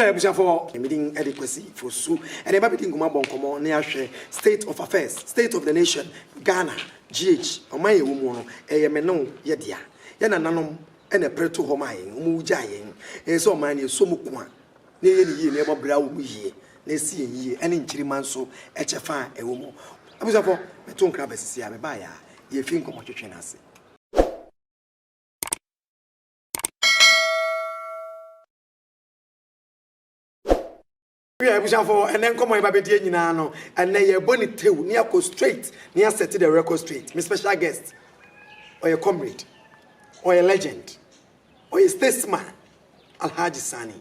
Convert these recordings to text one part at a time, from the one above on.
wia abusuafoɔ me din de Kwasi Fosu ɛne ba bɛdi nkɔmmɔ abɔ nkɔmmɔ ne ahwɛ state of affairs state of the nation Ghana GH ɔman yɛwɔ mu no ɛyɛ me ne wo yɛ dea yɛ nananom ɛna ɛpere to hɔ maa yɛn wɔn gyaa yɛn ɛyɛ sɛ ɔman no yɛsɔ mu ko a na ɛyɛ no yie, na ɛbɔ bra wɔ mu yie, na ɛsi yɛn yie, ɛne nkyirimma nso kyɛfa a ɛwɔ mu. Abusuafo, meto nkra aba sisi a mebaeɛ a yɛrefi nkɔmmɔtwetwe no ase. Woyɛ abusuafo, ɛnɛ nkɔmmɔ yɛba bɛdie nyinaa no, ɛnɛ yɛrebɔ ne tew ne akɔ straight, ne asɛte the record straight. Me special guest, ɔyɛ comrade, ɔyɛ legend, Ɔyɛ statesman Alhaji Sani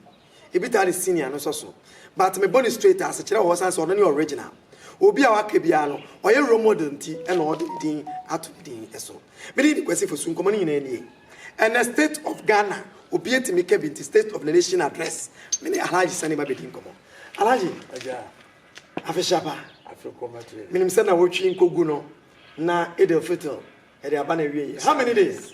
Ibitari Senior no nsɔso but mebɔ no straight ase kyerɛ wɔ ɔsan sɛ ɔno ne original. Obi a waka biara no ɔyɛ role model nti na ɔde ne din ato ne din so. Me din de Kwasi Fosu nkɔmmɔ no nyinaa nie. Ɛnɛ state of Ghana obi atumi ka bi nti state of the nation address me ne Alhaji Sani ba bɛdi nkɔmmɔ. Alhaji afe hyɛ pa. Menim sɛ na wotwi nkogu no na Eid al-Fitr ɛde aba na ɛwieɛ. How many days?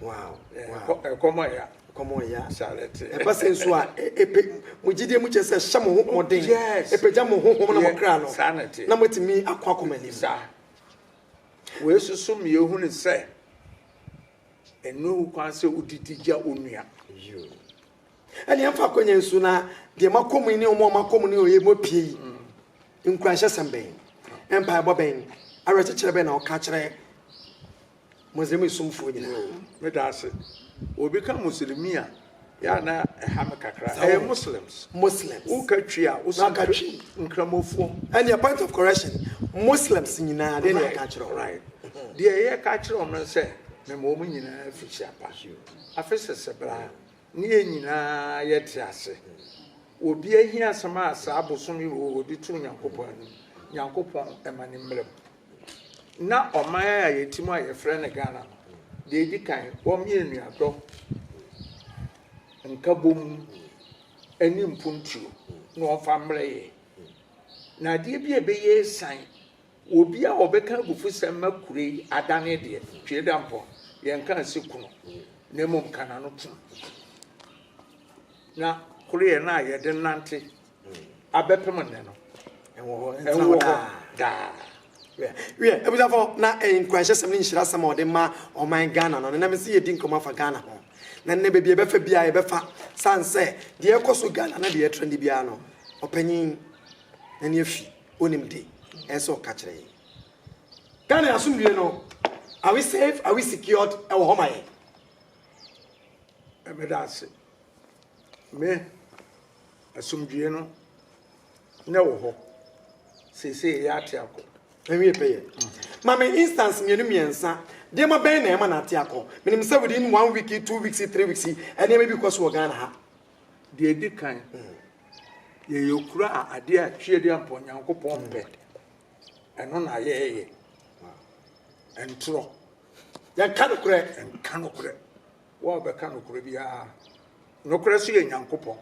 Wow, wow. Ɛkɔm ɔya. Ɛkɔm ɔya. Charity. Ɛba sɛ nso a, epe mo gyidie mu kyɛ sɛ hyɛ mo ho mɔden. Yes. Epagya mo ho hom na mo kra no. Sanity. Na mo tumi akɔ akɔm anim. Sa. Wei soso mi ehu ne sɛ, ɛnu ehu kwan sɛ odidi gya onua. Yo. Ɛni ɛnfa akɔnya nsu na deɛ ma kɔm yi ne ɔmo ɔmo akɔm ne ɔyɛ mu apue yi. Mm. Nkuranhyɛ sɛm bɛn, ɛmpa ɛbɔ bɛn, awerɛkyekyerɛ bɛn na ɔka kyerɛ Muslimi somfoɔ nyinaa me da ase wɔ obi ka muslimi a yɛ a na ɛha me kakra ɛyɛ muslims muslims wo ka twi a wo so twi nkramofoɔ ɛne a point of correction muslims nyinaa deɛ yɛ ka kyerɛ wo right deɛ yɛ ka kyerɛ wɔn sɛ mema wɔn nyinaa fi hyɛ pa afe sɛsɛ bra ne yɛ nyinaa yɛ te ase obi ahia asɛm a saa bosom yi wɔ wɔde to nyankopɔn anim nyankopɔn ɛma ne mmerɛ mu na ɔman a yɛte mu a yɛfrɛ no Ghana no, deɛ ɛdi kan, wɔmee anuadɔ, nkabom, ne mpuntuo na wɔmfa mmerɛ yɛ. Na adeɛ bi a ɛbɛyɛ asiane, obi a ɔbɛka abufusɛm ma kuro yi adane deɛ, Twe Dampɔn, yɛnka nse kunu, na mmom ka n'ano tom. Na koreɛ no a yɛde nante abɛpem nnɛ no ɛwɔ hɔ ɛwɔ hɔ daa wiɛ abusafo na nkuranhyɛsɛm ne nhyirasɛm a ɔde ma ɔman ghana no nenam sɛ yɛdi nkɔmmɔ afa ghana ho na nnɛ baabi ɛbɛfa biara yɛbɛfa san sɛ deɛ ɛkɔ so ghana na deɛ ɛtra ne biara no ɔpanyin na ne afi onim de ɛsɛ ɔka kyerɛ yɛ ghana asomdue no are we safe are we secured ɛwɔ hɔ ma yɛ ɛbɛda ase me Asomdwoeɛ no na ɛwɔ hɔ seesei ɛyɛ ate akɔ. Ɛnwie pɛyɛ. Ma me instance mmienu mmiɛnsa. Nneɛma bɛn na ɛma no ate akɔ? Menim sɛ within one week, two weeks, three weeks, nneɛma bi kɔ so wɔ Ghana ha. Deɛ ɛdi kan, yɛyɛ kuro a adeɛ a tweadeɛ ampa Onyankopɔn mpɛ. Ɛno na yɛyɛ. Ɛntorɔ. Yɛnka nokorɛ. Yɛnka nokorɛ. Wo a wobɛka nokorɛ biara, nokorɛ so yɛ Nyankopɔn,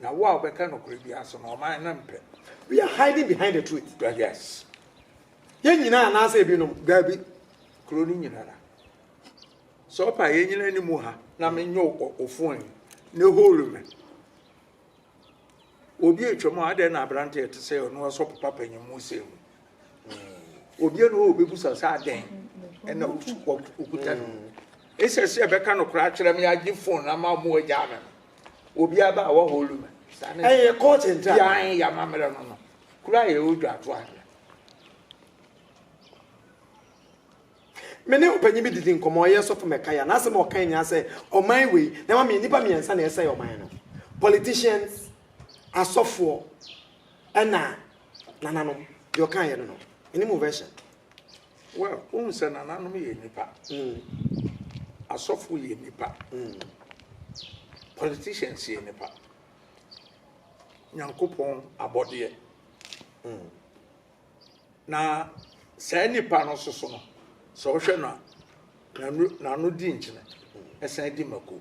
na wo a wobɛka nokorɛ biara so no, ɔman no mpɛ. We are hiding behind the truth. But yes. Yɛn nyinaa anaasɛ ebinom, daabi, kuro no nyinara. Sɛ ɔpa yɛn nyinaa ni mu ha na menyɛ ofon yi ne hole me. Obi atwam a adɛn na aberante ɛte sɛ ɔno ɔsɔpo papa nyim mu sɛ mu. Obi na ɔbɛbusa sɛ adɛn ɛna ɔkuta no mu. Ɛsɛ sɛ ɛbɛka no koraa kyerɛ me agye fon ama ɔmo agyaa me no. Obi aba a wɔholo me. Ɛyɛ kɔɔte ntra. Yɛn yɛ amammerɛ no no. Kura yɛ odwa ato ahwɛ. Me ne ɔpanyin bi didi nkɔmɔ ɔyɛ sɔfo mɛkaya n'asɛm a ɔkan nyinaa sɛ ɔman wei na ɛma me nnipa mmiɛnsa na ɛsɛe ɔman no politicians asɔfoɔ Ɛna nananom, deɛ ɔkaa yɛ no no, ɛni mu version. Well, wohu sɛ nananom yɛ nipa. Mm. Asɔfo yɛ nipa. Mm. Politicians yɛ nipa. Nyankopɔn abɔdeɛ. Mm. Na saa nipa no soso no, sɛ wohwɛ no a, n'ano di nkyene, ɛsan di mako.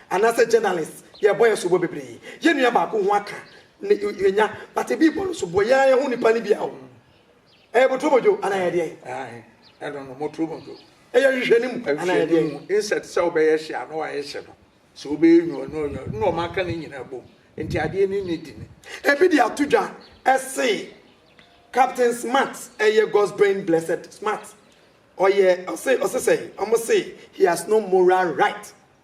Anasɛ journalist yɛbɔ yɛ soboɔ bebree yɛ nua baako ho aka ne yɛnya but ebi bɔ no soboɔ yɛa yɛho nipa no bia o ɛyɛ boturo modwo anaa yɛ deɛn ae ɛno no moturo modwo ɛyɛ hwehwɛ no mu anaa yɛ deɛn inset sɛ wobɛyɛ hye a na wayɛ hye no sɛ wobɛyɛ nwuo no ɔnyɛ na ɔma aka ne nyina bom nti adeɛ no ne di ne. Ebi de ato dwa ɛse captain smart ɛyɛ God's brain blessed smart ɔyɛ ɔse ɔse sɛn ɔmo se he has no moral right.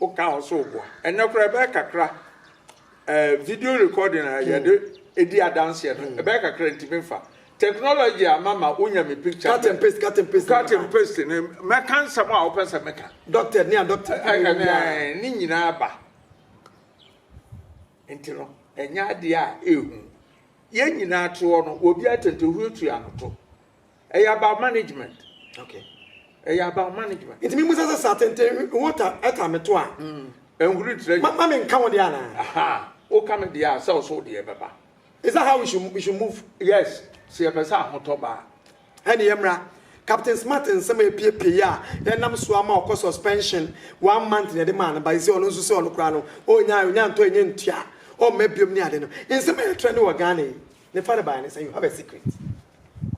Wo ka ho so boa. Ɛnɛ koraa ɛbɛyɛ kakra eh, video recording a yɛde hmm. di adanseɛ no hmm. ɛbɛyɛ kakra ntumi nfa technology ama ma wonya me picture cut and paste cut and paste cut and paste ne mɛka nsɛm a wopɛ sɛ meka doctor ne a doctor ne nyinaa ba nti no ɛnyɛ adeɛ a ɛhu yɛn nyinaa toɔ no obi atɛntɛ huatua no to Ɛyɛ about management. Okay. Ɛyɛ about management. Nti mi mu sɛ sɛ sa tenten wo ta ɛta mi to a. Mm. Ɛnhuri ntire. Ma ma mi nka wo deɛ ana. Aha. O ka mi deɛ a sɛ ɔso deɛ bɛba. Is that how we should we should move? Yes. Sɛ yɛ pɛ sɛ ahotɔ ba. Ɛni yɛ mra. Captain Smart nsɛm a epiepie yi a yɛnam so ama ɔkɔ suspension one month na yɛde maa no ba yi sɛ ɔno nso sɛ ɔno koraa no ɔnya ɔnya ntɔ ɛnyɛ ntua ɔmma biom ne ade no nsɛm a yɛtrɛ ne wɔ Ghana yi ne fa ne baeɛ ne sɛ you have a secret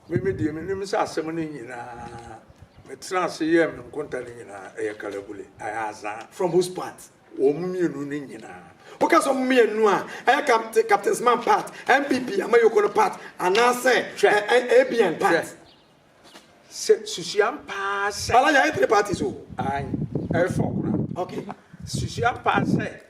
Me me deɛ menim sɛ asɛm no nyinaa Metenaa ase yɛɛ me nkonta no nyinaa Ɛyɛ kalabule, ɛyɛ azaa From whose part? Wɔn mmienu no nyinaa Woka sɛ wɔn mmienu a, ɛyɛ Captain Captain Smart part, NPP Amayoko no part Anaasɛ Hwɛ, ɛ ɛ ABN part? hwɛ Sɛ susuam paa sɛ Bala yɛayɛ three parties o. Aane, ɛyɛ four koraa Okay. Susuam paa sɛ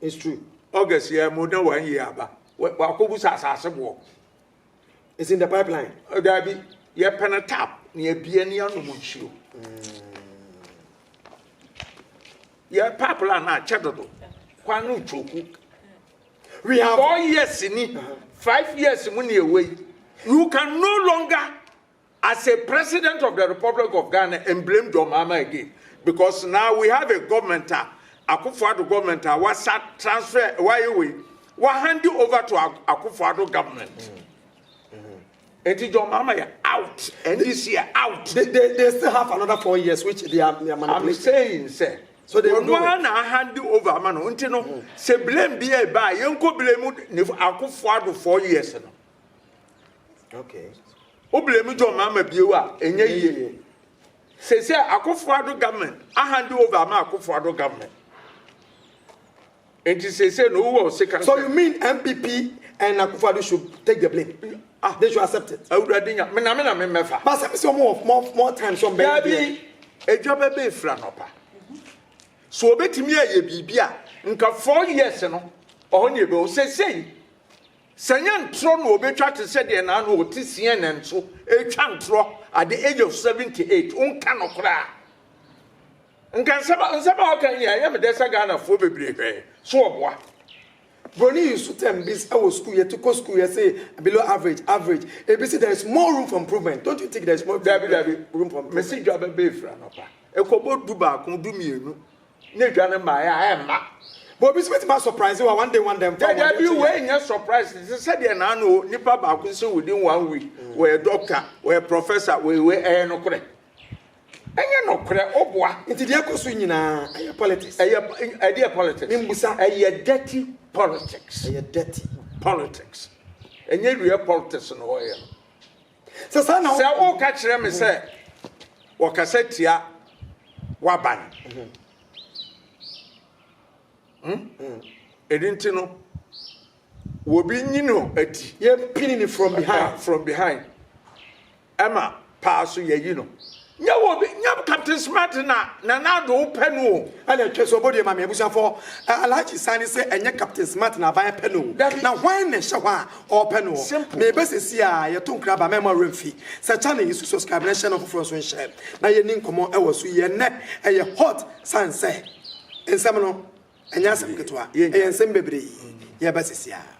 It's true. August yɛ mo na one year aba. Wakɔbu sa asase boɔ. It's in the pipeline. Daabi, yɛpɛ no tap na yɛbie ne yɛanom nsuo. Yɛ pipeline no akyɛ dodo. Kwan no twoku. We have four years ni, five years mu na yɛwɔ yi. You can no longer As a president of the republic of Ghana and blame John Mahama again because now we have a government a Akufo Addo government a wasa transfer wayɛ wei wa hand over to Akufo Addo government. Mm. Enti John Mahama yɛ out. NDC yɛ out. They, they, they still have another four years which they are, they are manipulating. I'm saying sɛ. So they will do it. na hand over ama no. Nti no, mm. sɛ blame bi ɛba a, yɛnkɔ blame ne akofo ado four years no. Okay. Wobile mu John Mahama bio a, ɛnyɛ yie. Sɛ sɛ Akufo-Addo government ahande over ama Akufo-Addo government. Nti sɛ sɛ no wowɔ sika. So you mean MPP and Akufo-Addo should take the blame? Ah, they should accept it. Awurade nya, me na me na me mɛfa. But sɛ sɛ more more more time so mbɛyɛ. Dabi, edwa bɛbɛ efira nɔpa. So obetumi ayɛ biribi a nka four years no ɔhɔ ne ebe o sɛ sɛ yi. Sɛ nyɛ ntorɔ na ɔbɛtwa te sɛ deɛ naano a ɔte CNN so retwa ntorɔ at the age of 78, wonka nokorɛ a, nka nsɛm a nsɛm a ɔka nyinaa ɛyɛ me dɛ sɛ Ghanafoɔ bebree hwɛɛ so ɔboa. Broni yi nso term bi sɛ wɔ sukuu yɛte kɔ sukuu yɛse below average, average, ebi se there is more room for improvement, don't you think there is more Dabi dabi, room for improvement? mese dwa bɛbɛ ɛfiri anɔpa ɛkɔbɔ du baako, du mmienu. na edwa no mmaeɛ a ɛmma. But obi nso bɛtumi asɔpraese wa one day one day mfa wɔn Daabi o, wei nyɛ surprise. Te sɛ deɛ naano o, nipa baako nso within one week, wɔyɛ doctor, wɔyɛ professor, wɔyɛ wei, ɛyɛ nokorɛ? Ɛnyɛ nokorɛ, woboa. Nti deɛ ɛkɔ so nyinaa, ɛyɛ politics. Ɛyɛ, ɛdeɛ politics? Membusa. Ɛyɛ dirty politics. Ɛyɛ dirty. Politics. Ɛnyɛ real politics na wɔyɛ no. Sɛ saa na. Sɛ woka kyerɛ me sɛ wɔkasa tia w'aban. Ɛno nti no, wɔbi nyi no adi. Yɛmpini no from behind. From behind. Ɛma paa so yɛyi no. Nyɛ wo obi nyɛ captain smart na nana ado wo pɛ no o. Ɛna ɛtwa so ɔbɔ due ma me abusuafoɔ ɛ Alhaji Sani se ɛnyɛ captain smart na aban pɛ no o na hwan na ɛhyɛ hɔ a ɔɔpɛ no ɔ me bɛ sɛsi a yɛto nkra ba mɛma wura mfi sɛ channel yi so subscribe na hyɛ no foforɔ nso nhyɛ na yɛni nkɔmɔ ɛwɔ so yi ɛnɛ ɛyɛ hot sane sɛ nsɛm no ɛnyɛ asɛm ketewa ɛyɛ nsɛm bebree yɛɛba sɛsi a.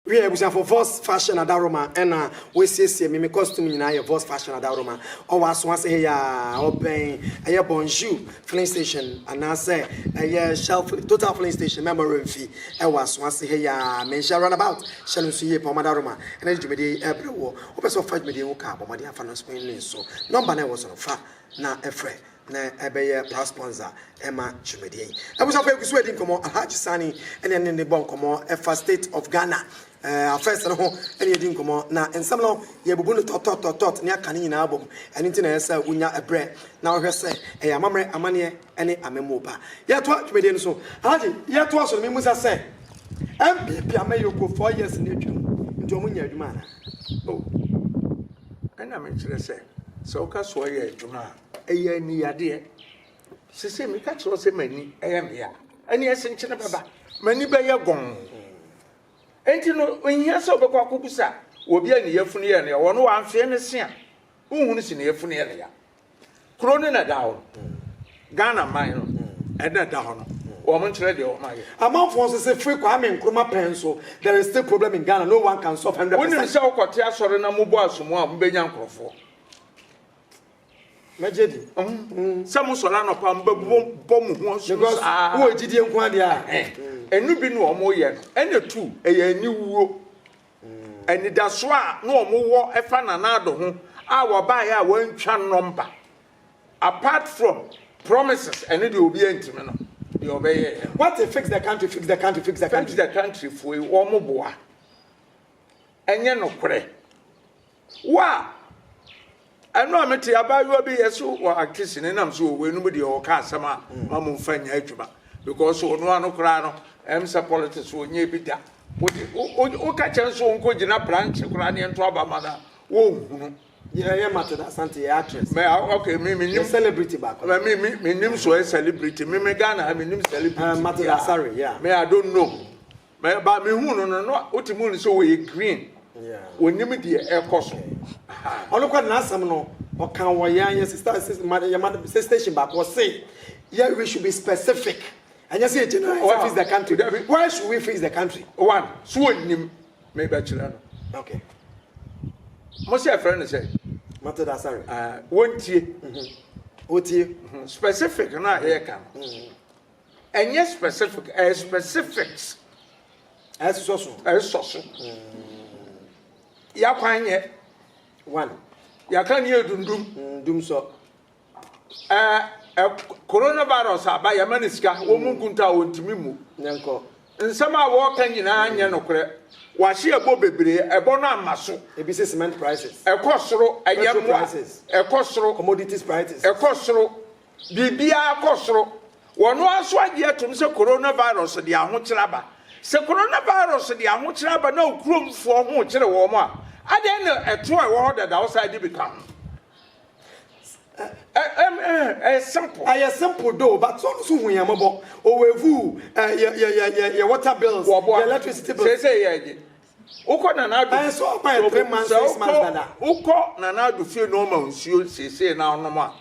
Wiɛ abusuafo Voss Fashion Adaworoma ɛna wɔasiesie me me costume nyinaa yɛ Voss Fashion Adaworoma ɔwɔ aso ase he yaa ɔbɛn ɛyɛ Bonjour filling station anaasɛ ɛyɛ Shell filling Total filling station mɛma werɛ mfi ɛwɔ aso ase he yaa menhyɛ runabout hyɛ no nso yie paa wɔn adaworoma ɛna de dwumadie yi ɛɛbrɛ woɔ wopɛ sɛ wofa dwumadie yi ho ka a bɔ mmɔden fa no nso nso nɔmba no a ɛwɔ so no fa na ɛfrɛ na ɛbɛyɛ past sponsor ɛma dwumadie yi. Abusuafo yɛgu so edi nkɔmɔ, Alhaji Sani ɛne ɛne ne bɔ nkɔmɔ ɛfa state of Ghana eh, affairs no ho ɛne yɛdi nkɔmɔ, na nsɛm no yɛbubu no tɔtɔtɔtɔt ne aka ne nyinaa abɔ mu, ɛno nti na ɛyɛ sɛ wonya ɛbrɛ na wohwɛ sɛ ɛyɛ amammerɛ, amaneɛ ɛne amammuo pa. Yɛtoa dwumadie no so, Alhaji yɛtoa so no memmusa sɛ NPP amanyɔkuo four years no atwam nti wɔn nyɛ adwuma anaa? Oh, ɛna mekyerɛ sɛ sɛ woka sɛ wɔyɛ adwuma a Ɛyɛ aniyadeɛ. Sese meka kyerɛ sɛ m'ani ɛyɛ meya. Ɛne ɛse nkyene bɛba. M'ani bɛyɛ gɔn. Enti no, nhia sɛ wobɛkɔ akɔbusa obi a ne yafunu yɛ no ya. Wɔno wamfeɛ ne se a, wohunu se ne yafunu yɛ no ya. Kuro no na ɛda hɔ no. Ghana man no ɛna ɛda hɔ no. Wɔn nkyerɛ deɛ wɔn ayɛ. Amanfoɔ nso se firi Kwame Nkrumah pɛn nso, there is still problem in Ghana, no one can solve hundred percent. Wonim sɛ wokɔte asɔre na mobɔ asomu a, mobɛnya nkorɔfoɔ. mɛgye di. sɛ mo sɔrɔ anɔpa mo bɛ bɔ mo ho ɔsoro saa. wɔ gyidie nko adeɛ a. ɛnu bi na wɔn yɛ no ɛna tu ɛyɛ aniwuo anidaso a na wɔn wɔ ɛfa nanaado ho a wɔbaeɛ a wɔantwa nɔmba apart from promises ɛne deɛ obi antumi no deɛ ɔbɛyɛ yɛ. what a fix the country fix the country fix the country. fix the country foe wɔn boa ɛnyɛ nokorɛ. Wa! Ɛno a me te abaayewa bi yɛ so wɔ Akisi ne nam so wɔ wei no mu deɛ ɔka asɛm a ma mo nfa nyɛ adwuma because ɔno ano koraa no ɛm sɛ politics wɔ nyɛ bi da wode wo ka kyɛn so ɔnkɔ gyina branch koraa ne ɛnto aba ma no a wɔnhunu yɛ mate da asante yɛ actress me ok me me nim celebrity baako me me me me nim so ɛ celebrity me me Ghana me nim celebrity uh, mate da sorry yeah me I don't know Me ba me hu no no no wote mu no sɛ wɔyɛ green wɔnim deɛ ɛkɔ so. Ɔno kɔ n'asɛm no ɔka wɔ yɛn yɛ sista yɛ ma sɛ station baako ɔse yɛ we should be specific ɛnyɛ sɛ general why fix the country dabi why should we fix the country one so wɔnim me bɛkyerɛ no okay mo sɛ ɛfrɛ no sɛ mate da sare wɔntie wɔtie specific no a yɛka no Ɛnyɛ specific, ɛyɛ specifics. Ɛsɔ so. Ɛsɔ so. Yakwan yɛ. One. Yaka ni edundum. Mm, dum sɔ. Ɛɛ ɛ coronavirus aba yɛ ma ne sika wɔn mu nkunta a wɔntumi mu. Nyankɔ. Nsɛm a wɔreka nyinaa nyɛ nokorɛ. Wɔahye ɛbɔ bebree, ɛbɔ no ama so. Ebi sɛ cement prices. Ɛkɔ soro, ɛyɛ mmoa. Ɛkɔ soro. Commodities prices. Ɛkɔ soro. Biribiara kɔ soro. Wɔn ara nso agye atom sɛ coronavirus de ahokyere aba. Sɛ coronavirus de ahokyere aba na wo kuromfoɔ ho rekyere wɔn a, adɛn na ɛtoɔ a ɛwɔ hɔ dada wo san de bi ka ho? Ɛyɛ simple. Ɛyɛ simple though, but ɔno nso hu yɛn mmɔbɔ. Owevuu, yɛ yɛ yɛ yɛ yɛ water bills, yɛ electricity bills. Sɛ sɛ yɛ ɛgye. Wokɔ Nana Addo. Ɛyɛ sɛ ɔba yɛ three months, six months dada. Wokɔ Nana Addo fie na ɔma nsuo sese na ɔnom a.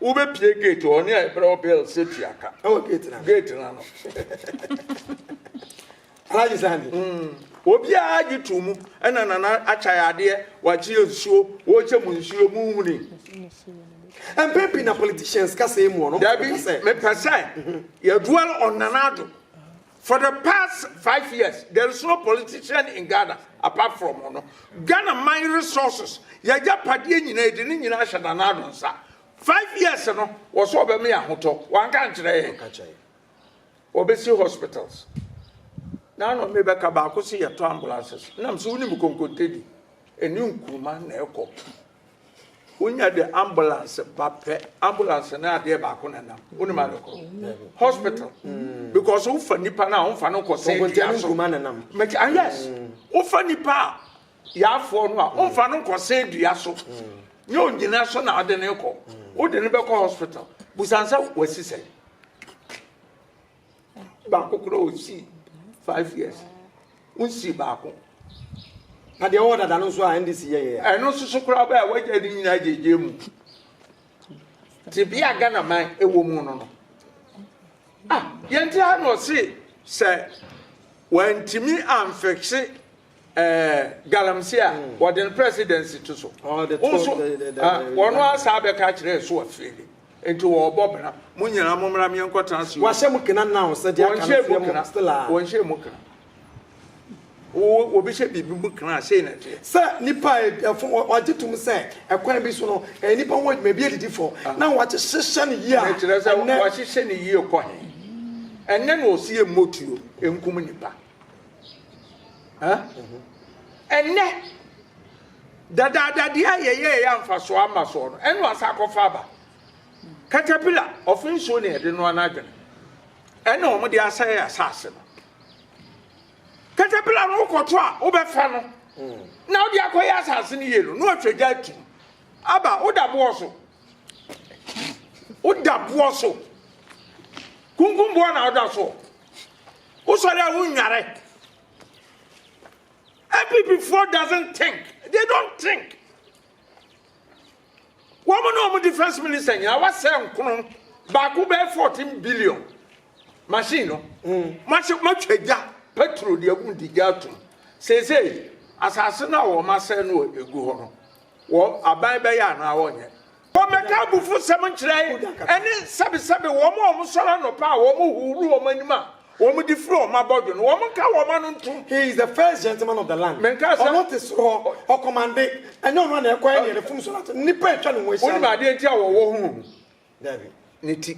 Wobɛpie gate hɔ ne a ɛbrɛ wo bell safety aka ɛwɔ gate na gate na no alaji sani mm. obiara gye to mu ɛna nana akyae adeɛ wakyeɛ nsuo wɔkyɛ mu nsuo mu huni mpɛn pii na politicians kasa mu ɔno dabi mepɛ sɛ yɛdual ɔnana ado For the past five years there is no politician in Ghana apart from ɔno. Ghana man resources yagyapadeɛ nyinaa yɛde ne nyinaa ahyɛ Nana Addo nsa. Five years no wɔ so ɔbɛma yɛ ahotɔ wanka nkyerɛ yɛn. Ɔbɛsi hospitals. Nana ɔme bɛka baako se yɛtɔ ambulances. Nam so wonim konkontedi ɛne nkuruma na ɛkɔ. Wonya de ambulance ba pɛ ambulance ne adeɛ baako na nam wonim ade kɔ hospital mm. because wofa nipa no a womfa no nkɔ sɛ dua so mɛti ah yes mm. wofa nipa a yaafoɔ no a womfa no nkɔ sɛ dua so mm. ne onyina so na ade ne kɔ wode ne bɛkɔ hospital busan sɛ wasi sɛ baako koraa ɔsii five years wonsii baako na deɛ ɔwɔ dada no nso a ndc yɛyɛ ɛno nso so koraa bɛɛ a wagya ne nyinaa gyegye mu tebea ghana man ɛwɔ mu no no ah yɛnti ha na ɔse sɛ wantumi amfɛkse Ɛɛ galamsey a wɔde no presidency to so. Wo so wɔn ara saa bɛka akyerɛ ɛso afeeli. Nti wɔrebɔ bra. Mo nyinaa mo mmra meɛ nkɔ tena Sion. Wɔahyɛ mu kena now sɛ deɛ aka no fie mu still a. Wɔnhyɛ mu kena. Obi hyɛ biribi mu kena a sei na ɛteɛ. Sɛ nipa a ɛfo wɔagye tom sɛ ɛkwan bi so no ɛyɛ nipa ho adwuma ebi adidi fɔ na wɔahyehyɛ no yie a. Ɛkyerɛ sɛ wɔahyehyɛ no yie kɔ he? Ɛnnɛ na ɔse yɛmmɔ tuo nkum nipa. Ɛnnɛ, dadaadadeɛ a yɛyɛɛ yɛ amfasoɔ ama soɔ no, ɛna ɔsan akɔfa aba. Katapila, ɔfe nsuo na yɛde noa n'adwene. Ɛna wɔn de asɛe asase no. Katapila no wokɔto a wobɛfa no na wode akɔyɛ asase no yie no, na ɔtwa gya atum. Aba, woda boɔ so. Woda boɔ so. Kunkum boɔ na woda soɔ. Wosɔre a wonnware. Abibifoɔ doesn't think. They don't think. Wɔn ne wɔn defense minister nyinaa wasɛ nkono baako bɛyɛ 14 billion machine no. Mahyɛ matwa gya petrol de agum de gya atum. Seesei asase no a wɔn asɛ no egu hɔ no. wɔ aban bɛyɛ anaa wɔnyɛ. Wɔmmɛka abufusɛm nkyerɛ ɛne sɛbesɛbe wɔn a wɔsɔre anɔpa a wɔhohoro wɔn anim a wɔde firi wɔn abɔdwe no, wɔnka wɔn ano ntom. He is the first gentleman of the land. Menkaa sɛ. Ɔno te soro hɔ, ɔkɔmande. Ɛnyɛ ɔno a na ɛkɔyɛ nea n'afum so no ato no. Nnipa a atwa ne ho ahyia no. Wonim adeɛ nti a wɔwɔ ho? Dabi. Ne ti.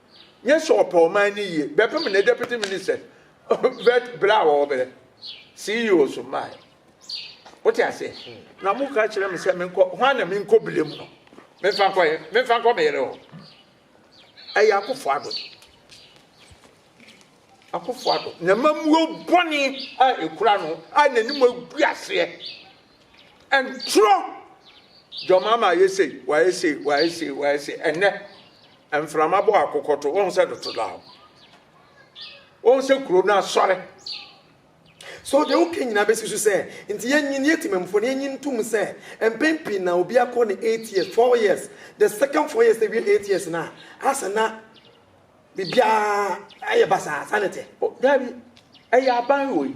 nye sɛ ɔpɛ ɔman no yie bɛpem ne deputy ministers bɛt berɛ a wɔbrɛ ceo so mmaeɛ wote aseɛ na mo ka kyerɛ me sɛ menkɔ hwan na menkɔ bile mu no memfa nkɔ yɛ memfa nkɔ me yere hɔ ɛyɛ akofo ado akofo ado na mamuo bɔne a ɛkura no a n'anim agu aseɛ Ɛntorɔ! John Mahama ayɛ sei, wayɛ sei, wayɛ sei, wayɛ sei. Ɛnnɛ, mframa bɔ akokɔto. Wohu sɛ doto da hɔ. Wohu sɛ kuro no asɔre. So deɛ woka nyinaa bɛsi so sɛ, nti yɛnyin, yɛ temamufoɔ no, yɛnyin ntom sɛ, mpɛn pii na obi akɔ ne eight years, four years, the second four years na awie eight years no a, asa na biribiara ayɛ basaa, saa na ɛteɛ. O, daabi, ɛyɛ aban wei,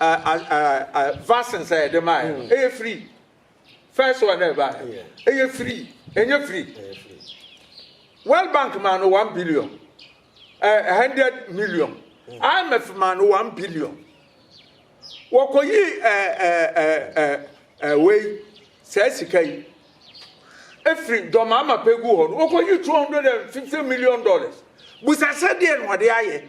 Vaccine sɛ yɛde maa yɛ no, mm. ɛyɛ free. First one na ɛbaa yɛ, ɛyɛ free, ɛnyɛ free. World Bank maa no one billion, a hundred million. Mm. IMF maa no one billion. Wɔkɔyi wei saa sika yi efiri dɔmaama pegu hɔ no, wɔkɔyi two hundred and fifty million dollars. Busasɛ deɛ na ɔde ayɛ.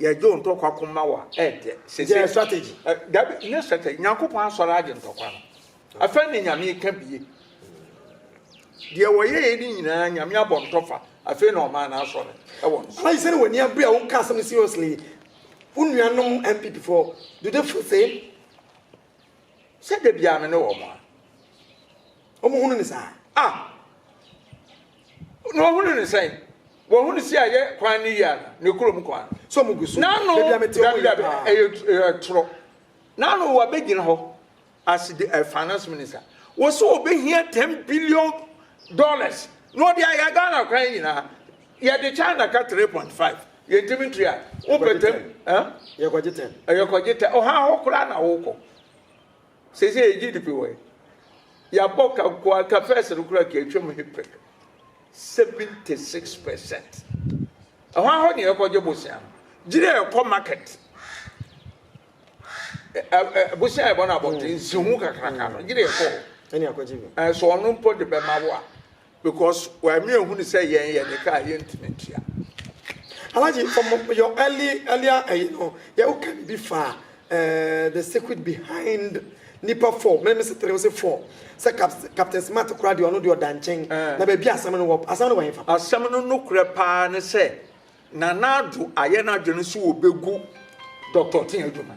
Yɛ dwo ntɔkwa ko ma wa ɛ dɛ. Sese. Yɛ strategy. Ɛ dabi nye strategy Nyankopɔn asɔre agye ntɔkwa no afɛ ne Nyame ka bie deɛ wɔ yɛɛ ne nyinaa Nyame abɔ ntɔfa afei na ɔmaa na asɔre ɛwɔ nso. Alaji sɛne wani abere a wo ka asɛm no seriously wo nua nom NPP foɔ do they feel same. Sɛ da biaa me ne wɔn a. Wɔn hunu ne saa. A. Na wɔn hunu ne sɛn. Wɔn hunu si a yɛ kwan ne yia no ne kurom kwan. So wɔn gu so. N'ano dabi dabi ɛyɛ toro. N'ano wɔ bɛ gyina hɔ. Asi de ɛfa no som ne sa. Wɔ so wɔ bɛ hia ten billion dollars. Na ɔde ayɛ Ghana kwan nyinaa. Yɛ de China ka three point five. Yɛ ntumi ntua. Wopɛ ten. Yɛ kɔgye ten. Yɛ kɔgye ten. Ɔha hɔ koraa na wokɔ. Sesei yɛgye di pe wɔ he? Yɛabɔ ka nko ara, ka first no koraa ka atwam he pɛk, 76 percent. Ɛhɔ ara hɔ ne yɛkɔgye bosea no. Gyiri a ɛkɔ market, bosea a yɛbɔ no abɔnten, nsiho kakraka no, gyiri a ɛkɔ hɔ. So ɔno mpo de bɛma wo a, Because why me ehunu sɛ yɛn yɛ de ka a yɛntumi ntua. Alaji ɔmo yɛ early earlier ɛyi eh, no yɛ wo ka bibi fa eh, the secret behind nipa four mene me setere wo se four sɛ captain smart kora deɛ ɔno deɛ ɔda nkyɛn eh. na baabi asɛm no wɔ asɛm no wɔ hefa asɛm no no korɛ paa ne sɛ nana ado ayɛ no adwene so wɔbɛgu dɔktɔ te adwuma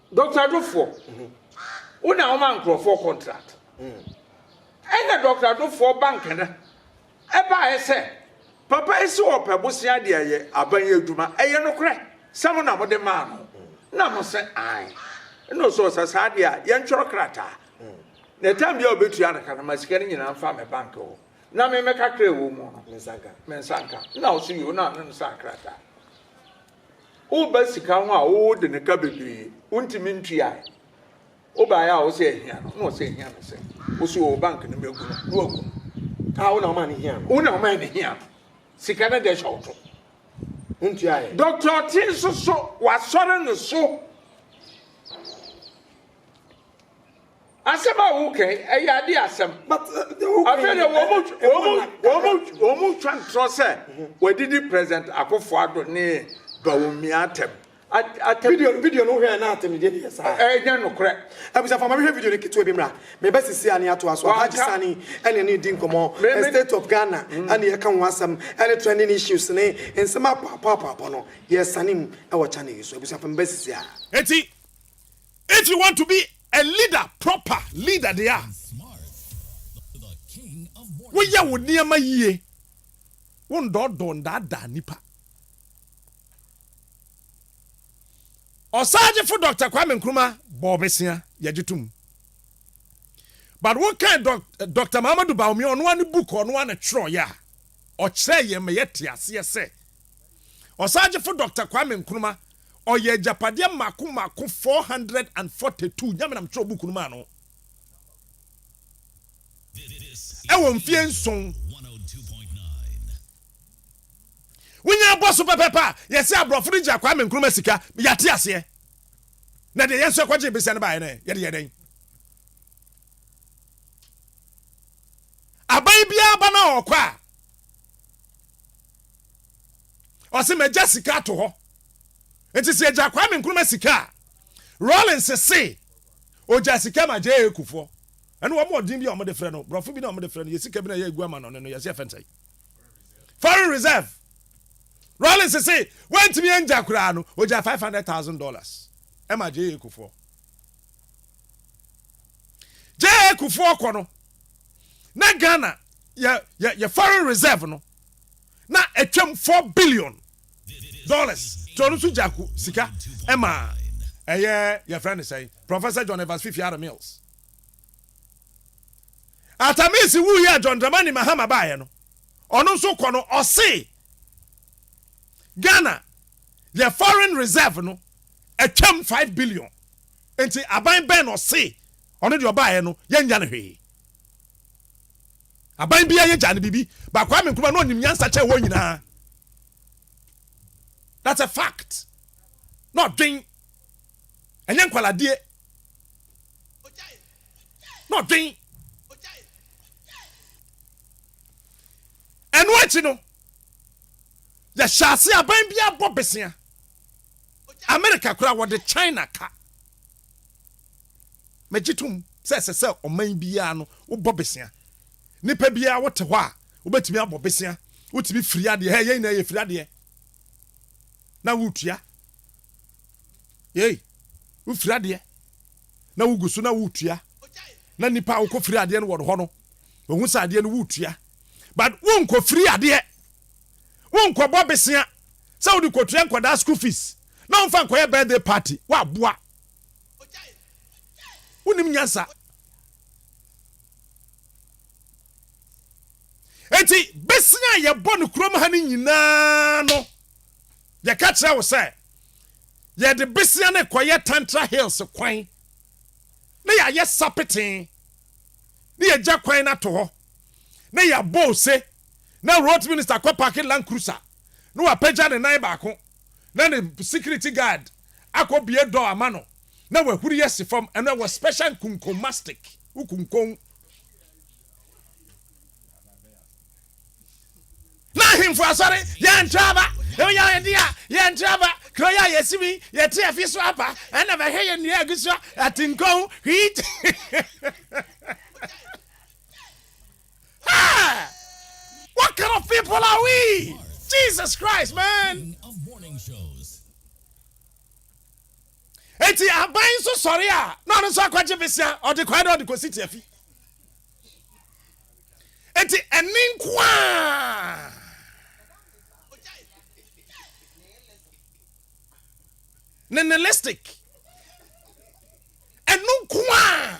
Doctor Dofoɔ, wo na woma nkorɔfoɔ contract. Ɛna Doctor Dofoɔ ba Nkana baeɛ sɛ, Papa yi se ɔpɛ bosea de ayɛ aban yi adwuma, ɛyɛ nokorɛ sɛ mo na mode maa no? Ɛna mo se, Aane. Ɛna ɔse, Ɔsɛ saa deɛ a, yɛntwerɛ krataa, na time biara a ɔbɛtua no ka no, ma sika no nyinaa mfa me bank hɔ, na me mɛka kra a ɛwɔ mu no, me nsa nka. Ɛna ɔse, Yoo, na ɔne no saa krataa. Woba sika ho a wode no ka bebree, wontumi ntuae. Wobae a wose ahia no, na ɔse ahia no sɛn? Wose oo bank no mɛgu no, na wagu no. Ah wo na womaa no hia no. Wo na womaa no hia no. Sika no deɛ hyɛ wo to. Wontuaeɛ. Doctor Ɔte nso so, wasɔre no so. Asɛm a woreka yi, ɛyɛ ade asɛm. Afei deɛ wɔn twa ntorɔ sɛ wɔadidi President Akufo Addo ne Bawumia atɛm. Video video no hwɛ na atem deɛ yɛ saa. Ɛnyɛ nokorɛ. Abusa fama mehwɛ video no ketewa bi mra. Meba sisi ani ato aso. Alhaji Sani ɛne ne di nkɔmɔ. State of Ghana ɛne yɛka ho asɛm ɛne trending issues ne nsɛm apɔ apɔ apɔ apɔ no yɛ sane mu ɛwɔ channel yi so. Abusua fama meba sisi a. Eti If you want to be a leader, proper leader deɛ a, woyɛ wo nneɛma yie, wo ndɔɔdɔɔ ndaadaa nipa. Ɔsagyefo Dr. Kwame Nkrumah bɔɔ bɛsia, yɛgye to mu. But wokan Dr. Mahamadou Bawumia, ɔno ara ne book a ɔno ara na twerɛeɛ a, ɔkyerɛɛ yɛn ma yɛte aseɛ sɛ Ɔsagyefo Dr. Kwame Nkrumah Ɔyɛɛ agyapadeɛ mmaako mmaako four hundred and forty two, Nyame na metwerɛɛ book no maa no, ɛwɔ mfeɛ nson. Wonya abɔ so pɛpɛpɛ a, yɛse aborɔfo no gyaa Kwame Nkrumah sika, yɛate aseɛ. Na deɛ yɛn nso yɛkɔgyee besia no baeɛ no ɛ, yɛde yɛɛ dɛn? Aban biara ba no a ɔkɔ a, ɔse magya sika ato hɔ nti sɛ yɛgya Kwame Nkrumah sika a Rawlings se ogya sika ma JA Kufuor ɛne wɔn ɔden bi a wɔde frɛ no borɔfo bi na wɔde frɛ no yɛ sika bi na yɛ egu ama no no yɛse ɛfɛn sɛn foreign reserve Rawlings se wantumi angya koraa no ogya five hundred thousand dollars ɛma JA Kufuor JA Kufuor kɔ no na Ghana yɛ yɛ yɛ foreign reserve no. na ɛtwam four billion dollars. Nti ɔno nso gyaa ko sika maa ɛyɛ yɛfrɛ no sɛn Professor John Evans Fifi Ara Mills. Atta Mills wuiɛ a John Dramani Mahama baeɛ no, ɔno nso kɔ no ɔse Ghana yɛ foreign reserve no ɛtwam five billion. Nti aban bɛn na ɔse ɔno deɛ ɔbaeɛ no yɛnnya no hwee. Aban biara yɛ gyaa no biribi but Kwame Nkrumah na ɔnim nyansa kyɛn wɔn nyinaa that's a fact na ɔdwen ɛnyɛ nkwaladeɛ na ɔdwen ɛno akyi no yɛhyɛ ase aban biara bɔ besea America koraa wɔde China ka Megye tom sɛ ɛsɛ sɛ ɔman biara no wobɔ bosea. Nnipa biara wote hɔ a wobɛtumi abɔ bosea. Wotumi firi adeɛ. Hɛ, yɛn nyinaa yɛfiri adeɛ na woretua. Yei, wofiri adeɛ na wogu so na woretua. Na nnipa a wokɔ firi adeɛ no wɔ hɔ no, wɔhu sɛ adeɛ no woretua. But wonkɔ firi adeɛ. Wonkɔbɔ bosea sɛ wode kɔtua nkwadaa school fees. na ɔmfa nkɔyɛ birthday party woaboa wonim nyansa enti bɛsina a yɛbɔ no kurom ha no nyinaa no yɛka kyerɛ wo sɛ yɛde besia no kɔyɛ tantra hills kwan na yɛayɛ sapeten na yɛgya kwan no ato hɔ na yɛabɔ ose na road minister kɔ parking land cruiser na wapagya ne nan baako na ne security guard akɔ bue door ama no na wahuri asi fam, ɛno ɛwɔ special nkunkon mastic ukunkon. Na ahemfo asɔre yɛntra aba, ɛwɔ yɛ ayɛ de a yɛntra aba, kuro yɛ a yɛsi mi yɛte afi so aba, ɛna bɛhwɛ yɛ nnua agu so, atenkɔn, wheat. Hey! What kind of people are we? Jesus Christ, man. Eti aban so sorry a na ɔno nso akɔgye besia ɔde kwae dɛ ɔde kɔsi tiafi. Eti ɛne nko a. Nihilistic. Ɛno nko a.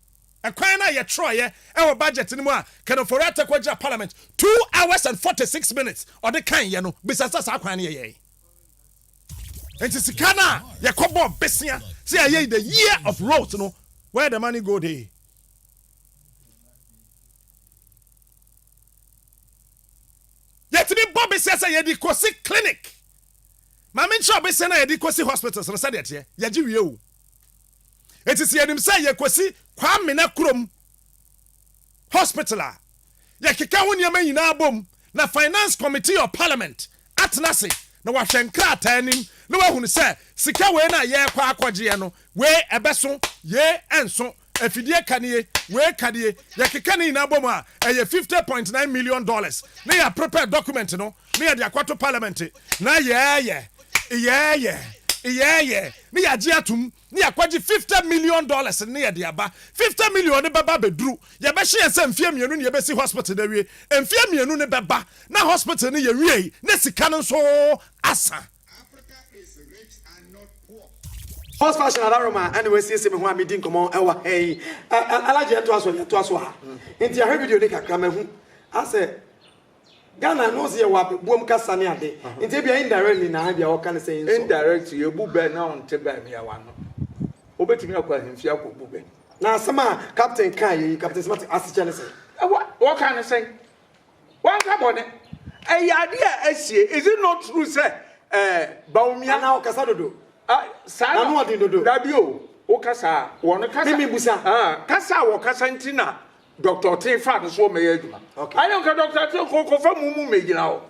Ɛkwan no a yɛtwerɛeɛ wɔ budget no mu a Ken Ofori Atta kɔgyina parliament two hours and forty six minutes ɔde kaeɛ no, bisa sɛ saa kwan no yɛyɛe. Nti sika no a yɛkɔbɔɔ besea sɛ yɛayɛ the year of roads no, where the money go dey? Yɛtumi bɔ besea sɛ yɛde kɔsi clinic. Ma menkyerɛ wo besea no a yɛde kɔsi hospitals no sɛdeɛ ɛteɛ. Yɛgye wie o. Enti sɛ yɛnim sɛ yɛkɔsi Kwamena kurom hospital a, yɛkeka ho nneɛma nyinaa bom na Finance Committee of Parliament atena ase na wɔahwɛ nkrataa anim na wɔahunu sɛ sika wei no a yɛrekɔ akɔgyeɛ no, wei ɛbɛso, yei ɛnso, afidie ka nie, wei ka nie, yɛkeka ne nyinaa bom a, ɛyɛ fifty point nine million dollars na yɛaprepare document no. ne yɛde akɔto Parliament na yɛɛyɛ yɛɛyɛ yɛɛyɛ ne yɛagye atom ne yɛakɔgye fifty million dollars ne yɛde aba. Fifty million no bɛba abɛduru, yɛbɛhyɛ yɛn sɛ mfeɛ mmienu ne yɛbɛsi hospital no awie. Mfeɛ mmienu no bɛba na hospital no yɛwiei na sika no nso asa. Horse fashion Alaroma na wasiesie me ho a medi nkɔmmɔ wɔ ha yi. Alhaji yɛntoa so yɛntoa so a nti yɛahwɛ video no kakra mahu asɛ Ghana no ɔse yɛwɔ abɛboam kasa ne ade nti ebia indirectly na ebia ɔka no sɛ nsɔ. Indirectly ebu bɛ na ɔnte bɛ mmeawa ano. Wobɛtumi akɔ ahemfie akɔbu bɛ. Na asɛm a Captain kaeɛ yi, Captain Smarty, asekyerɛ ne sɛn? Wɔka no sɛn? Wanka bɔne. Ɛyɛ adeɛ a asie. Is it not true sɛ eh, Bawumia. Anaa ɔkasa dodo? Ah, saa na. N'ano ɔden dodo. Dabi o, wokasa a wɔn kasa. Mimi busa. Ah, kasa a wɔkasa nti na Doctor Ɔtee fa no so wɔ mɛyɛ adwuma. Okay. Ayɛ nka Doctor Ɔtee kɔ kɔ fa mu mu mɛgyina hɔ.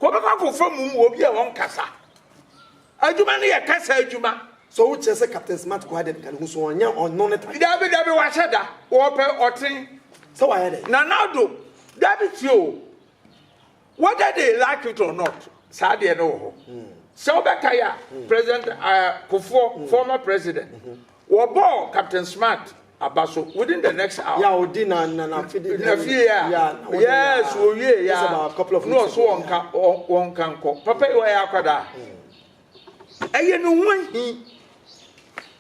Kɔ bɛkɔ akɔ fa mu mu obi a wɔn kasa. Adwuma no yɛ kasa adwuma. So wo kyerɛ sɛ Captain Smart kɔ adɛn ka ne ho so ɔnyɛ ɔno ne ta. Dabi dabi wahyɛ da wɔpɛ ɔten. Sɛ wayɛ dɛ. Nana do dabi tie o. Whether they like it or not, saa deɛ no wɔ hɔ. Sɛ wobɛkae a, President Kufuor, former president, wɔbɔɔ Captain Smart aba so within the next hour. Yeah, odi na na na fidi. Na fie a. Yeah, na odi. Yes, owie ya. Just about a couple of weeks ago. No, so wɔnka wɔnka nkɔ. Papa yi wɔyɛ akwadaa. Ɛyɛ ne ho ahi.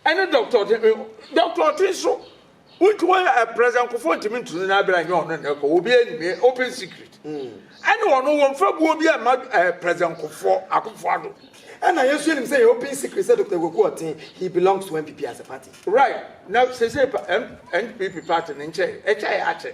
Ɛne dɔkta ɔte dɔkta ɔte nso wontumi wɔyɛ ɛprɛsɛ nkɔfoɔ ntumi ntunu no abira nyɛ ɔno nnɛ kɔ obi anim eh, open secret ɛne ɔno wɔn fa buo bi ɛma ɛprɛsɛ nkɔfoɔ akɔfoɔ ado. Ɛna yɛn nso yɛnim sɛ yɛ open secret sɛ Dr. Kwaku Ɔten he belongs to NPP as a party. Right na seisei pa NPP party no nkyɛe ɛkyɛe akyɛ.